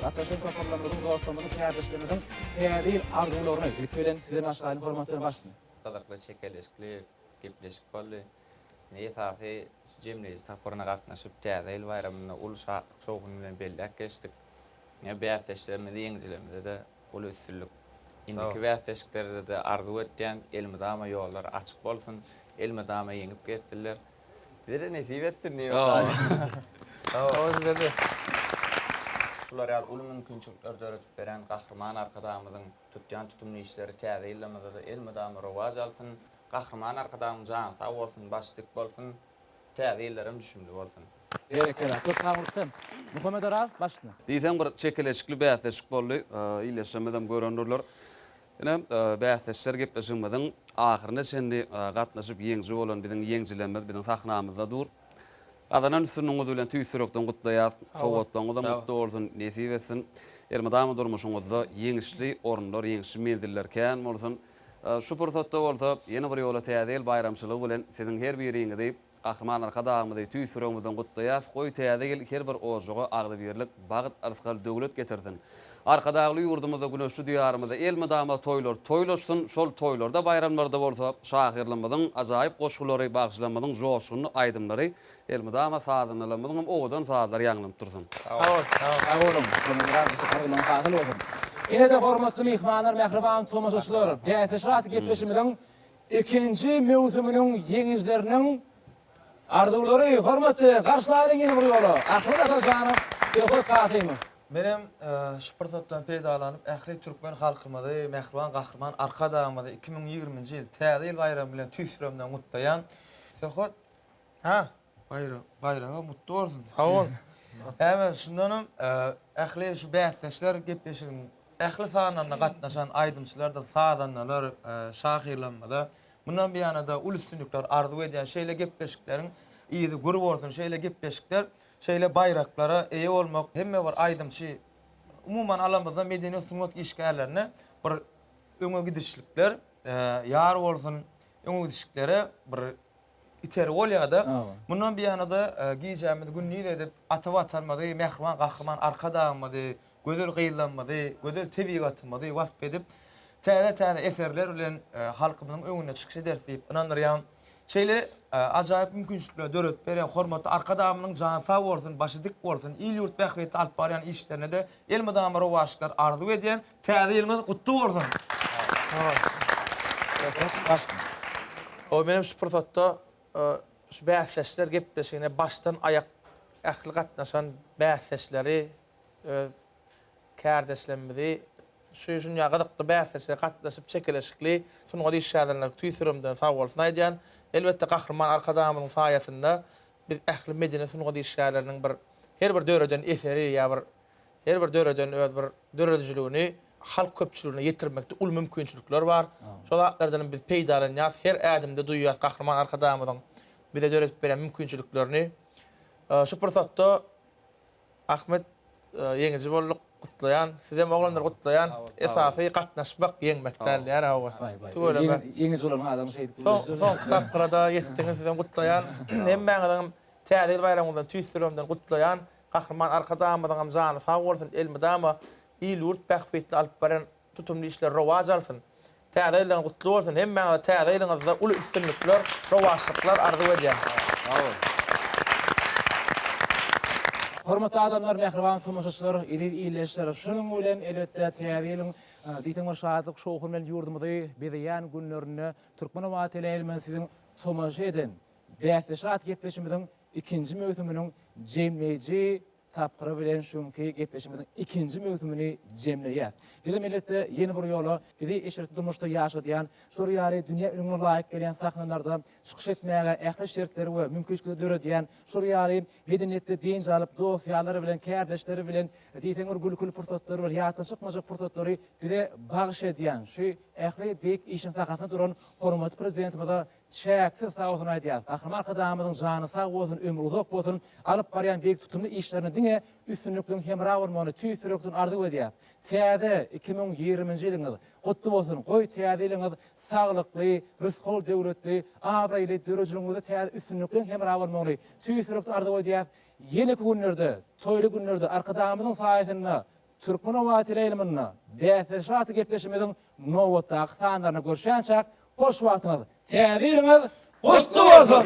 Gatnaşan toparlarymyzyň, dostlarymyzyň, kärdeşlerimiziň täze ýyl arzuwlaryny, ilki bilen, size başlaýyn, hormatly Ýolbaşçy! Gyzykly, çekeleşikli gepleşik boldy. Indi esasy şu jemleýji tapgyryna gatnaşyp, Täze ýyl baýramyny uly şatlyk-şowhun bilen belläp geçdik. Ine, bäsdeşlerimize, ýeňijilerimize-de uly üstünlik. Indiki bäsdeşliklerde-de arzuw etýän, elmydama ýollar açyk bolsun, elmydama ýeňip geçsinler! Bizede nesip etsin diýip. Sag bol size de. Şular ýaly uly mümkinçilikleri döredip beren Gahryman Arkadagymyzyň tutýan tutumly işleri täze ýylymyzda-da elmydama rowaç alsyn. Gahryman Arkadagymyz jany sag bolsun, başy dik bolsun. Täze ýyllar hem düşümli bolsun. Berekella. Köp sag bol sen. Muhammet Oraz başyna. Diýseň bir çekeleşikli bäsleşik boldy. Ildeşlerimiz hem görendurlar. Ine, bäsdeşler gepleşigimiziň ahyryna çenli gatnaşyp ýeňiji bolan biziň ýeňjilerimiz biziň sahnamyzda dur. Gazanan üstünligiňiz bilen tüýs ýürekden gutlaýas. Sowgatlaryňyzam gutly bolsun, nesip etsin. Elmydama durmuşyňyzda ýeňişli orunlar, ýeňişli menziller kän bolsun. Şu pursatda bolsa ýene bir ýola Täze ýyl baýramçylygy bilen siziň her biriňizi Gahryman Arkadagymyzy tüýs ýüregimizden gutlaýas, goý täze ýyl her bir ojaga agzybirlik, bagt, yrsgal, döwlet getirsin. Arkadagly ýurdumyzda, güneşli Diýarymyzda elmydama toýlar toýlaşsyn, şol toýlarda, baýramlarda bolsa şahyrlarymyzyň ajaýyp goşgulary, bagşylarymyzyň joşgunly aýdymlary elmydama sazandalarymyzyň hem owadan sazlary ýaňlanyp dursun. Sag boluň, sag boluň. Gürrüňiz hasyl bolsun. Ine-de hormatly myhmanlar, mähriban tomaşaçylar, bäsleşik atly gepleşigimiziň Ikinji möwsüminiň ýeňijileriniň arzuwlary hormatly garşy alyň ýene bir ýola Ahmet Atajanow, Söhbet Kasymow. Menem şu pursatdan peýdalanyp ähli türkmen halkymyzy, Mähriban Gahryman Arkadagymyzy iki müň ýigrimi nji ýyl Täze ýyl baýramy bilen tüýs ýüregimden gutlaýan. Söhbet, ha, Baýra, baýragyň gutly bolsun. Sag bol. Äbe, şundanam ähli şu bäsdeşler gepleşigiň ähli sanlaryna gatnaşan aýdymçylardyr sazandalar, şahyrlarymyza mundan beýana-da uly üstünlikler arzuw edýän. Şeýle gepleşikleriň yzy gür bolsun. Şeýle gepleşikler, şeýle baýraklara eýe bolmak hemme bir aýdymçy, umuman alamyzda medeni-sungat işgärlerine bir öňe gidişlikler ýar bolsun. Öňe gidişliklere bir Iter bolýar-da. Mundan biýana-da gijämizi gündiz edip, ata Watanymyzy, mähriban Gahryman Arkadagymyzy, gözel gyzlarymyzy, gözel tebigatymyzy wasp edip, täze-täze eserler bilen halkymyzyň öňünde çykyş ederis diýip ynandyrýan. Şeýle ajaýyp mümkinçilikleri döredip berýän hormatly Arkadagymyzyň jany sag bolsun, başy dik bolsun, il-ýurt bähbitli alyp barýan işlerine-de elmydama rowaçlyklar arzuw edýän. Täze ýylyňyz gutly bolsun! Goý menem şu pursatda şu bäsdeşler gepleşigine başdan aýak ähli gatnaşan bäsdeşleri öz kärdeşlerimizi şu şunýa gyzykly bäsdeşlige gatnaşyp çekeleşikli sungat işgärlerine tüýs ýüregimden sag bolsun aýdýan. Elbetde Gahryman Arkadagymyzyň saýasynda biz ähli medeni sungat işgärleriniň bir her bir döreden eseri ýa bir Her bir döreden öz bir döredijiligini halk köpçüligine ýetirmekde uly mümkinçilikler bar. Şol zatlardan hem biz peýdalanýas, her ädimde duýýas Gahryman Arkadagymyzyň bize döredip beren mümkinçiliklerini. Şu pursatda Ahmet ýeňiji bolduk, gutlaýan. Sizem oglanlar gutlaýan. Esasy gatnaşmak, ýeňmek däl ýa hawa. Tüweleme. Ýeňiji bolan adam şeýdip gürleşer. Soňky tapgyra-da ýetdiňiz, sizem gutlaýan. Hemmäňiziňem Täze ýyl baýramyňyzdan tüýs ýüregimden gutlaýan. Gahryman Arkadagymyzyňam jany sag bolsun, elmydama il-ýurt bähbitli alyp baren tutumly işleri rowaç alsyn. Täze ýyllygyňyz gutly bolsun, hemmäňize täze ýylyňyzda uly üstünlikler, rowaçlyklar arzuw edýän. Sag bol. Hormatly adamlar, mähriban tomaşaçylar, eziz ildeşler, şunuň bilen elbetde täze ýylyň diýseň bir şatlyk şowhun bilen ýurdumyzy bezeýän günlerinde Türkmenoba teleýaýlymyny siziň tomaşa eden Bäsleşik atly gepleşimiziň ikinji möwsüminiň jemleýji tapgyry bilen şu günki gepleşimiziň ikinji möwsümini jemleýäs. Bizem elbetde ýene bir ýola bizi eşretli durmuşda ýaşadýan, şular ýaly dünýä ününe laýyk gelýän sahnalarda çykyş etmäge ähli şertleri we mümkinçilikleri döredýän, şular ýaly medeniýetli dynç alyp, dost-ýarlary bilen, kärdeşleri bilen diýseň bir gülküli pursatlary bilen, ýatdan çykmajak pursatlary bize bagyş edýän şu ähli beýik işiň sahasynda duran hormatly Prezidentimize Çäksiz sag bolsun aýdýas. Gahryman Arkadagymyzyň jany sag bolsun, ömri uzak bolsun, alyp barýan beýik tutumly işlerinde diňe üstünlikliň hemra bolmagyny tüýs ýürekden arzuw edýäs. Täze iki müň ýigriminji ýylyňyz gutly bolsun, goý täze ýylyňyz saglykly, rysgal döwletli, abraýly, döredijiligiňizde täze üstünlikliň hemra bolmagyny tüýs ýürekden arzuw edýäs. Ýeneki günlerde, toýly günlerde Arkadagymyzyň saýasynda Türkmenowateleýlmynda bäsleşik atly gepleşigimiziň nobatdaky sanlaryna görüşýänçäk hoş wagtyňyz, täze ýylyňyz gutly bolsun!